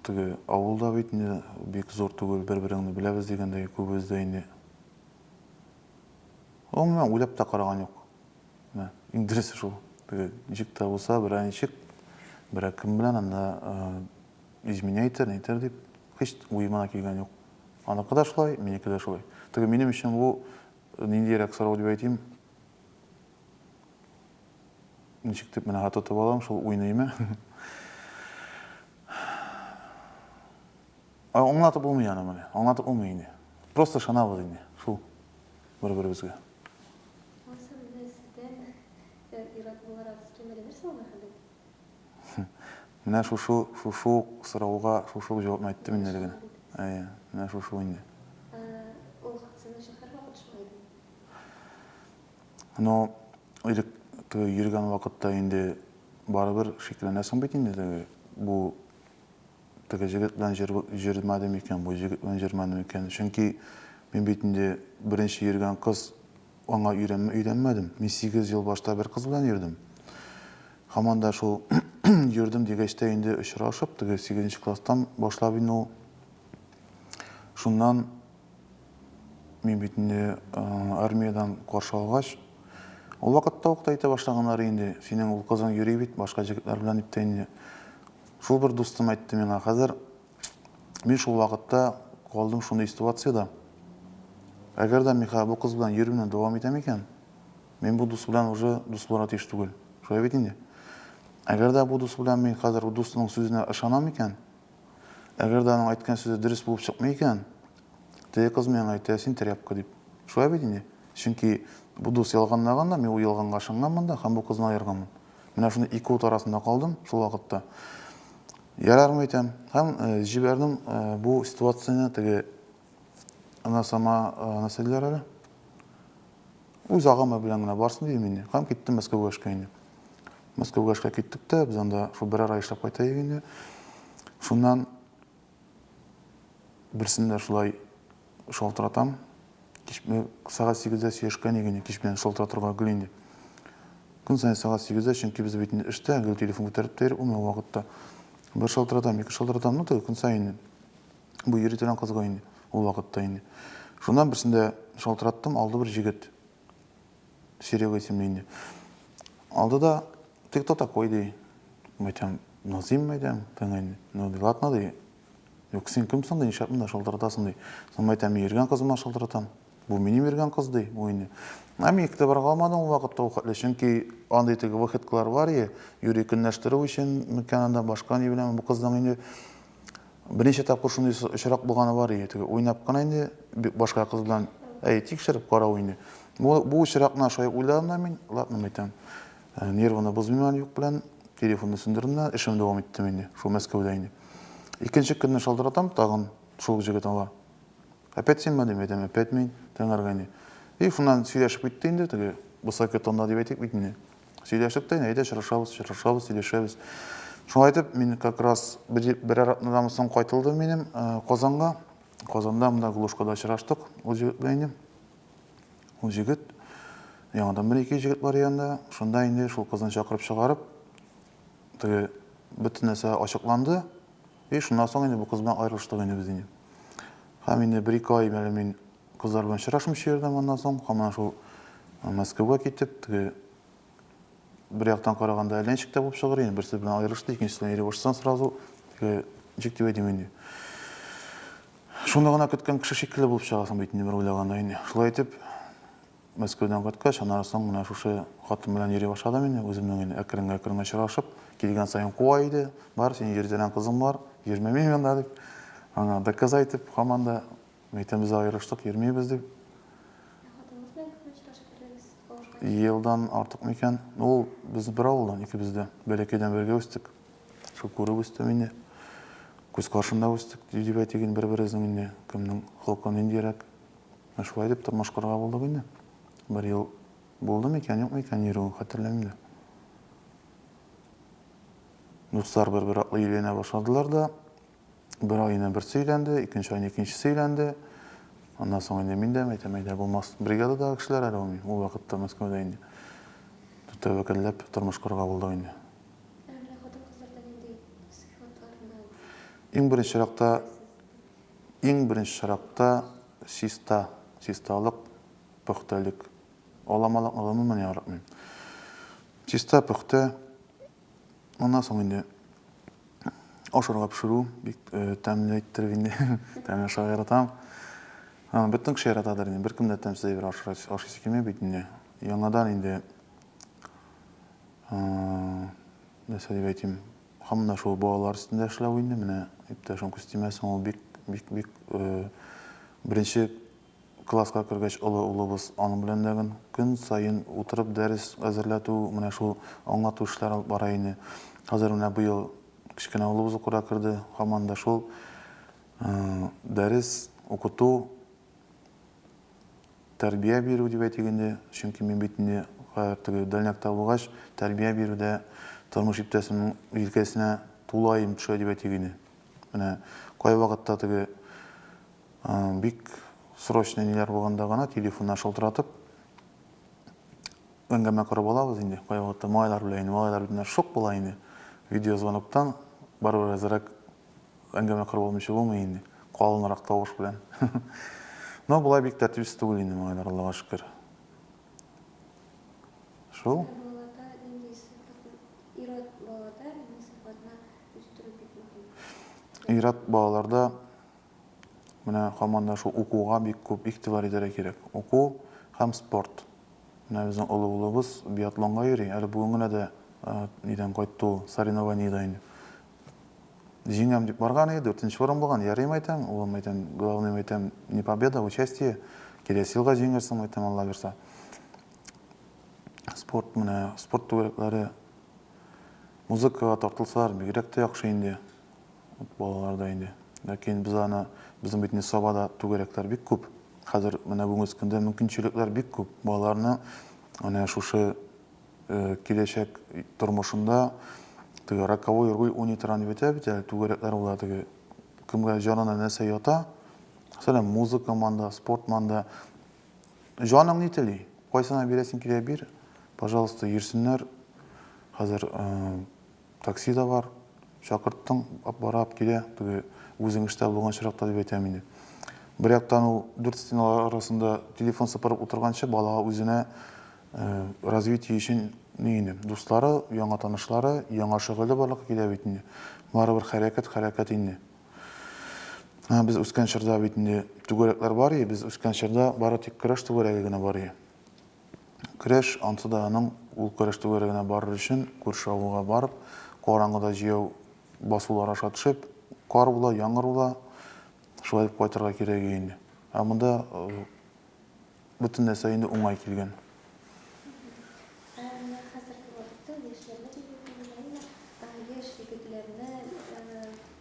теге авыл да бит инде бик зур түгел, бер-береңне беләбез дигәндәй, күбебез дә инде. Гомумән, уйлап та караган юк. Менә иң дөресе шул. Теге җик тә булса, берәр ничек, берәр кем белән анда Изменять итәр, ни итәр дип, һич уема да килгән юк. Аныкы да шулай, минеке дә шулай. Теге минем өчен бу э, ниндиерәк сорау дип әйтим. Ничек дип менә тотып алам, шул уйныймы? Аңлатып булмый аны менә, аңлатып булмый инде. Просто шанабыз инде, шул бер-беребезгә. Э, Менә шушы, шушы ук сорауга шушы ук җавапны әйттем мин әле генә. Әйе, менә шушы инде. Ул хатсыны шәһәр вакыт шулай ди. Ну, элек йөргән вакытта инде барыбер шикләнәсең бит инде теге бу Теге җегет белән җөрмәде микән, бу җегет белән җөрмәде микән? Чөнки мин бит инде беренче йөргән кыз, аңа өйрәнмә өйрәнмәдем. Мин сигез ел башта бер кыз белән йөрдем. Һаман да шул йөрдем дигәч тә инде очрашып, теге сигезенче класстан башлап инде ул. Шуннан мин бит инде армиядән каршы алгач, ул вакытта ук та әйтә башлаганнар инде, синең ул кызың йөри бит башка җегетләр белән дип тә инде. Шул бер дустым әйтте миңа, хәзер мин шул вакытта калдым шундый ситуациядә. Әгәр дә Михаил бу кыз белән йөрүне дәвам итә микән, мин бу дус белән уже дус булырга тиеш түгел. Шулай бит инде. Әгәр дә бу дус белән мин хәзер бу дустының сүзенә ышанам икән, әгәр дә аның әйткән сүзе дөрес булып чыкмый икән, теге кыз миңа әйтә, син тряпка дип. Шулай бит инде. Чөнки бу дус ялганлаган да, мин ул ялганга ышанганмын да һәм бу кызны аерганмын. Менә шундый ике ут арасында калдым шул вакытта. Ярармы икән? Һәм җибәрдем бу ситуацияне теге ана сама ана сәлләр әле. Үз агымы белән генә барсын дидем инде. Һәм киттем Мәскәүгә эшкә инде. Мәскәүгә эшкә киттек тә, без анда шул берәр ай эшләп кайтайык инде. Шуннан Берсен дә шулай шалтыратам. Кич бе- сәгать сигездә сөйләшкән иде инде, кич белән шалтыратырга гел инде. Көн саен сәгать сигездә, чөнки без бит инде эштә, гел телефон күтәреп тә йөри алмый ул вакытта. Бер шалтыратам, ике шалтыратам, ну, теге көн саен инде. Бу йөри торган кызга инде, ул вакытта инде. Шуннан берсен дә шалтыраттым, алды бер җегет. Серега исемле инде. Алды да, ты кто такой, ди. Мәйтәм, Назим мәйтәм, тыңай. Ну, ди, ладно, ди. Юк, син кем соң, ди, нишләп монда шылтыратасың, ди. Соң мәйтәм, мин йөргән кызыма шылтыратам. Бу минем йөргән кыз, ди, бу инде. Ә мин игътибар калмады ул вакытта ул хәтле, чөнки андый теге выходкалар бар, е, юри көнләштерү өчен микән анда, башка ни белән, бу кызның инде Берничә тапкыр шундый с- очрак булганы бар иде. Теге уйнап кына инде б- башка кыз белән, әй, тикшереп карау инде. Бу, бу очракны аша уйладым да мин, ладно, мәйтәм, э, нервыны бозмыйм әле юк белән, телефонны сүндердем дә, эшемне дәвам иттем инде, шул Мәскәүдә инде. Икенче көнне шалтыратам, тагын шул ук җегет ала. Опять синме? дим, әйтәм, опять мин, тыңарга инде. И шуннан сөйләшеп китте инде, теге высокий тонда дип әйтик бит инде. Сөйләштек тә, әйдә очрашабыз, очрашабыз, сөйләшәбез. Шулай итеп, мин как раз берәр атнадан соң кайтылдым минем э, Казанга. Казанда мында Глушкада очраштык ул җегет белән инде. Ул җегет яңадан бер ике җегет бар янында. Шунда инде шул кызны чакырып чыгарып, теге бөтен нәрсә ачыкланды. И шуннан соң инде бу кыз белән аерылыштык инде без инде. Һәм инде бер ике ай мәле мин Кызлар белән очрашмыйча йөрдем аннан соң. Һаман шул Мәскәүгә китеп, теге бер яктан караганда әйләнчек тә булып чыгыр инде. Берсе белән аерылышты, икенчесенә ире башсаң сразу, теге ничек дип әйтим инде. Шуны гына көткән кеше шикелле булып чыгасың бит инде бер уйлаганда инде. Шулай итеп, Мәскәүдән кайткач, аннан соң менә шушы хатын белән йөри башладым инде, үземнең инде әкрен-әкрен очрашып, килгән саен куа иде. Бар, синең йөртелгән кызың бар, йөрмә минем янда дип. Аңа доказать итеп, һаман да Мәйтәмбез аерыштык, йөрмибез дип. Ә хатыныңыз белән күпме очрашып йөрдегез? Кавышканчы. Елдан артык микән? Ул без бер авылдан, икебез дә. Бәләкәйдән бергә үстек. Шул күреп үстем инде. Күз каршында үстек, дип әйтик инде, бер-беребезнең инде кемнең холкы ниндирәк. Ә шулай дип тормыш корырга булдык инде. Бер ел булды микән, юкмы икән йөрүе, хәтерләмим дә. Дуслар бер-бер артлы өйләнә башладылар да. Бер ай инде берсе өйләнде, икенче ай икенчесе өйләнде. Аннан соң инде мин дә әйтәм, әйдә булмас. Бригададагы кешеләр әле ул, ул вакытта Мәскәүдә инде. Тәвәкәлләп тормыш корырга булдык инде. Иң беренче чиратта иң беренче чиратта чиста, чисталык, пөхтәлек. Аламалыкны гомумән яратмыйм. Чиста, пөхтә, Моннан соң инде ашарга пешерү бик тәмле иттереп инде. Тәмле ашарга яратам. Бөтен кеше яратадыр инде, беркем дә тәмсез әйбер ашыйсы килми бит инде. Яңадан инде, нәрсә дип әйтим, һаман да шул балалар өстендә эшләү инде. Менә иптәшем Кустимә соң ул бик, бик, бик беренче класска кергәч олы улыбыз аның белән дә гөн көн саен утырып дәрес әзерләтү, менә шул аңлату эшләре алып бара ине. Хәзер менә быел кечкенә улыбыз укырга керде, һаман да шул дәрес укыту, тәрбия бирү дип әйтик инде, чөнки мин бит инде хәзер теге дальнякта булгач, тәрбия бирүдә тормыш иптәшемнең җилкәсенә тулаем төшә дип әйтик иде. Менә кайвакытта теге Бик срочный ниләр булганда гына телефоннар шылтыратып, әңгәмә корып алабыз инде. Кая вакытта малайлар белән, инде малайлар бит шок була инде. Видеозвоноктан барыбер әзрәк әңгәмә корып алмыйча булмый инде. Калынрак тавыш белән. Но болай бик тәртипсез түгел инде малайлар, Аллага шөкер. Шул. Ират балаларда Менә һаман да шул укуга бик күп игътибар итәргә кирәк. Уку һәм спорт. Менә безнең олы улыбыз биатлонга йөри, әле бүген генә дә нидән кайтты ул, соревнованиедән инде. Җиңәм дип барган иде, дүртенче урын булган. Ярыйм әйтәм, улым әйтәм, главныем әйтәм, не победа, участие. Киләсе елга җиңерсең әйтәм, Алла бирса. Спорт менә, спорт түгәрәкләре музыкага тартылсалар, бигрәк тә яхшы инде. Ут балаларда инде. Ләкин без аны, безнең бит Несабада түгәрәкләр бик күп. Хәзер менә бүгенге көндә мөмкинчелекләр бик күп. Балаларны менә шушы киләчәк тормышында теге раковой руль уйный торган дип әйтә бит әле түгәрәкләр була теге кемгә җанына нәрсә ята. Мәсәлән, музыка манда, спорт манда. Җаның ни тели? Кайсына бирәсең килә бир. Пожалуйста, йөрсеннәр. Хәзер Такси да бар. Чакырттың, бара, килә. Теге үзең эштә булган очракта дип әйтәм инде. Бер яктан ул дүрт стеналар арасында телефон сыпырып утырганчы балага үзенә развитие өчен ни инде, дуслары, яңа танышлары, яңа шөгыле барлыкка килә бит инде. Барыбер хәрәкәт, хәрәкәт инде. Без үскән чорда бит инде түгәрәкләр бар и, без үскән чорда бары тик көрәш түгәрәге генә бар и. Көрәш, ансы да аның ул көрәш түгәрәгенә барыр өчен күрше авылга барып, караңгыда җәяү басулар аша төшеп, кар була, яңгыр була, шулай итеп кайтырга кирәк иде инде. Ә монда бөтен нәрсә инде уңай килгән.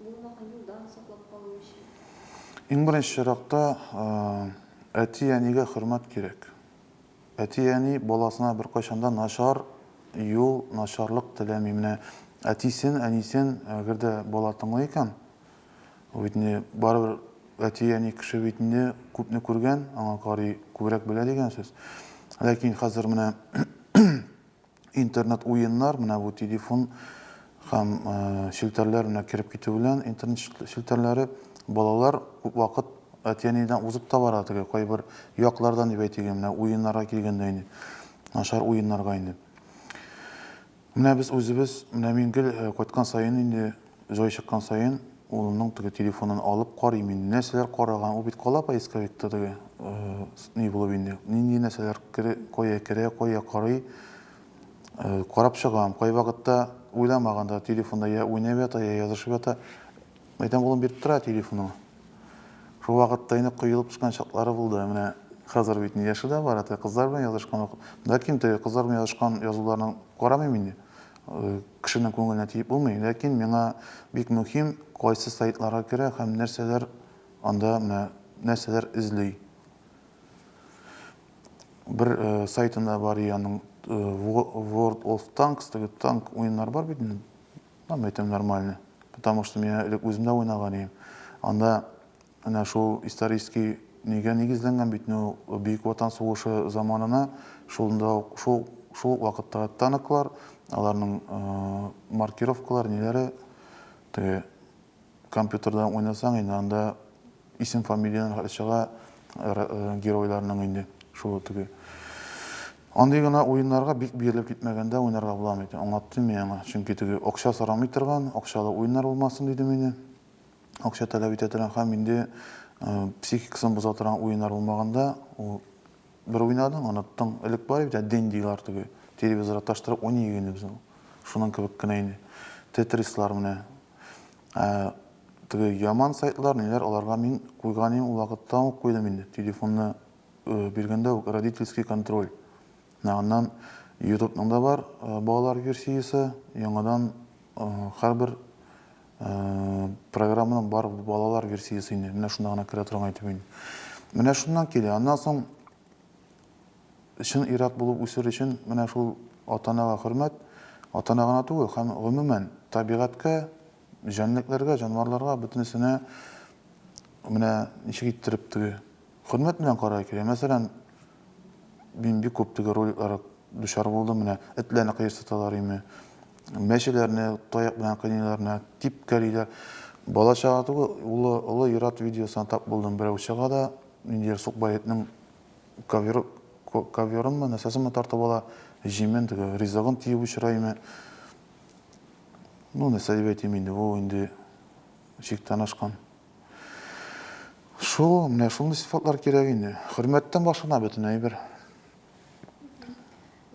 Булмаган юлдан саклап калу өчен. Иң беренче чиракта әти-әнигә хөрмәт кирәк. Әти-әни баласына беркайчан да начар юл, начарлык теләми. Менә әтисен, әнисен әгәр дә бала тыңлый икән, ул бит инде барыбер әти-әни кеше бит инде күпне күргән, аңа карый күбрәк белә дигән сүз. Ләкин хәзер менә Интернет уеннар, менә бу телефон һәм челтәрләр менә кереп китү белән интернет челтәрләре балалар күп вакыт әти-әнидән узып та бара теге кайбер яклардан дип әйтик, менә уеннарга килгәндә инде, начар уеннарга инде. Менә без үзебез, менә мин гел кайткан саен инде Җай чыккан саен, улымның теге телефонын алып карыйм инде. Нәрсәләр караган? Ул бит кала поисковикта теге, ни булып инде, нинди нәрсәләр кая керә, кая карый. Карап чыгам. Кайвакытта уйламаганда телефонда я уйнап ята, я язышып ята. Мәйтәм, улым биреп тора телефоныңны. Шул вакытта инде коелып төшкән чаклары булды. Менә хәзер бит яше дә бара, теге кызлар белән язышкан вакыт. Ләкин теге кызлар белән язышкан язуларны карамыйм инде. Кешенең күңеленә тиеп булмый, ләкин миңа бик мөһим, кайсы сайтларга керә һәм нәрсәләр анда менә нәрсәләр эзли. Бер сайтында бар и аның World of Tanks теге танк уеннар бар бит инде. Там әйтәм нормально. Потому что мин элек үзем дә уйнаган идем. Анда Менә шул исторический нигә нигезләнгән бит инде ул, Бөек Ватан сугышы заманына шунда ук, шул шул ук вакыттагы танклар, аларның маркировкалары, ниләре, теге компьютердан уйнасаң инде анда исем-фамилияләре хәтле чыга геройларның инде, шул теге. Андый гына уеннарга бик бирелеп китмәгәндә уйнарга буламы икән, аңлаттым мин аңа, чөнки теге акча сорамый торган, акчалы уеннар булмасын дидем мин. акча таләп итә торган һәм инде психикасын боза торган уеннар булмаганда, ул бер уйнадың, оныттың. Элек бар иде бит, день дилар теге, телевизорга таштырып уйный игенебез ул. Шуның кебек кенә инде. Тетрислар менә. Ә теге яман сайтлар, ниләр, аларга мин куйган идем, ул вакытта ук куйдым инде. Телефонны биргәндә үк родительский контроль. Менә аннан Ютубның да бар балалар версиясе, яңадан һәрбер Программаның бар балалар версиясе инде. Менә шунда гына керә торган әйтеп мин. Менә шуннан килә. Аннан соң чын ират булып үсер өчен менә шул атанага хөрмәт, атана гына түгел, һәм гомумән табигатькә, җәнлекләргә, җанварларга, бөтенесенә менә ничек иттереп теге Хөрмәт белән карар кирәк. Мәсәлән, мин бик күп теге роликларга дучар булдым. Менә этләрне кыерсыталар өйме, мәчеләрне таяк белән кыйныйлар, менә типкәлиләр. Бала чага түгел, улы, олы ир-ат видеосына тап булдым. Берәү чыга да, ниндидер сукбай этнең ковер, коверынмы, нәрсәсенме тартып ала, җимен, теге ризыгын тиеп очыра өйме. Ну, нәрсә дип әйтим инде, бу инде чиктән ашкан. Шул, менә шундый сыйфатлар кирәк инде. Хөрмәттән башлана бөтен әйбер.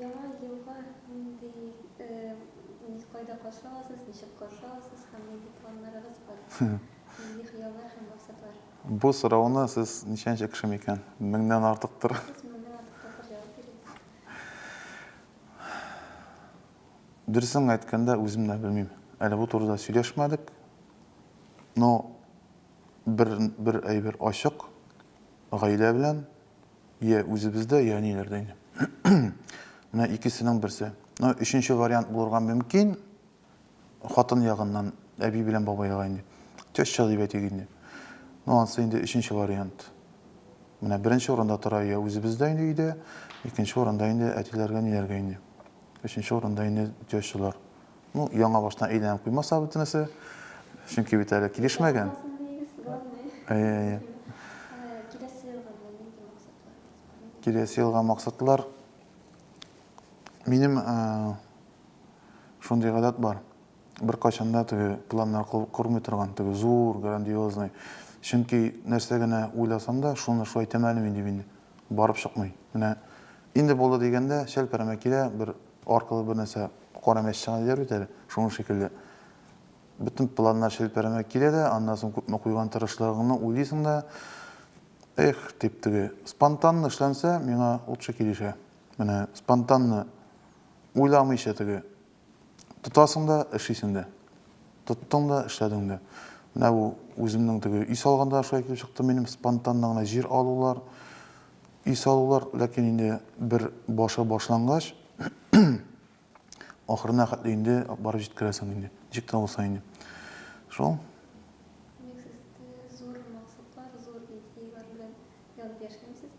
Яңа елга нинди, нинди кайда каршы аласыз, ничек каршы аласыз һәм нинди планнарыгыз бар? Нинди хыяллар һәм максатлар? Бу сорауны сез ничәнче кеше микән? Меңнән артыктыр. Сез меңнән артык тапкыр җавап бирдегез. Дөресен генә әйткәндә, үзем дә белмим. Әле бу турыда сөйләшмәдек. Но бер бер әйбер ачык, гаилә белән йә үзебездә, йә әниләрдә инде. Менә икесенең берсе. Но өченче вариант булырга мөмкин, хатын ягыннан әби белән бабайга инде. Теща дип әйтик инде. Но ансы инде өченче вариант. Менә беренче урында тора йә үзебездә инде өйдә, икенче урында инде әтиләргә, әниләргә инде. Өченче урында инде тещалар. Ну, яңа баштан әйләнеп куймаса бөтенесе. Чөнки бит әле килешмәгән. Әйе. Киләсе елга максатлар. Минем шундый гадәт бар. Бер качанда теге планнар кормый торган, теге зур, грандиозный. Чөнки нәрсә генә уйласам да, шуны шулай итәм әле мин дип инде. барып чыкмый. Менә инде булды дигәндә, чәлпәрәмә килә, бер аркылы бер нәрсә кара мәч чыга диләр бит әле, шуның шикелле. Бөтен планнар чәлпәрәмә килә дә, аннан соң күпме куйган тырышлыгыңны уйлыйсың да, эх, дип теге. Спонтанно эшләнсә, миңа лучше килешә. Менә спонтанно, уйламыйча теге, Тотасың да, эшлисең дә. Тоттың да, эшләдең дә. Менә бу үземнең теге өй салганда шулай килеп чыкты минем спонтанно гына җир алулар, өй салулар, ләкин инде бер башы башлангач, ахырына хәтле инде барып җиткерәсең инде, ничек тә булса инде. Шул. Димәк, сез зур максатлар, зур идеяләр белән янып яшәмисез?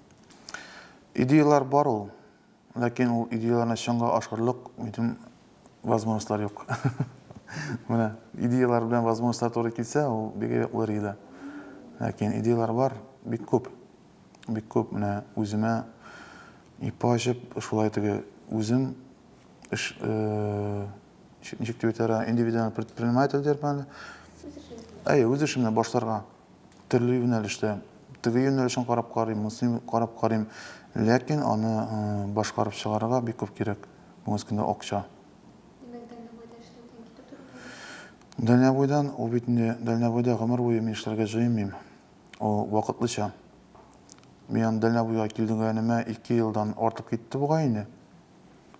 Идеяләр бар ул. Ләкин ул идеяләрне чынга ашырырлык минем возможностьлар юк. Менә идеяләр белән возможностьлар туры килсә, ул бик әйбәт булыр иде. Ләкин идеяләр бар, бик күп. Бик күп менә үземә ипа ачып, шулай теге үзем эш э, ничек дип әйтәләр, индивидуальный предприниматель дирбәле. Әйе, үз эшемне башларга. Төрле юнәлештә. Теге юнәлешен карап карыйм, монысын карап карыйм. Ләкин аны башкарып чыгарырга бик күп кирәк. Бүгенге көндә акча. Димәк, дальнобойда эшләүдән китеп тору кирәк? Дальнобойдан, ул бит инде дальнобойда гомер буе мин эшләргә җыенмыйм. Ул вакытлыча. Мин аны дальнобойга килдегәнемә ике елдан артып китте бугай инде.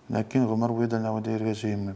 Ләкин гомер буе дальнобойда йөрергә җыенмыйм.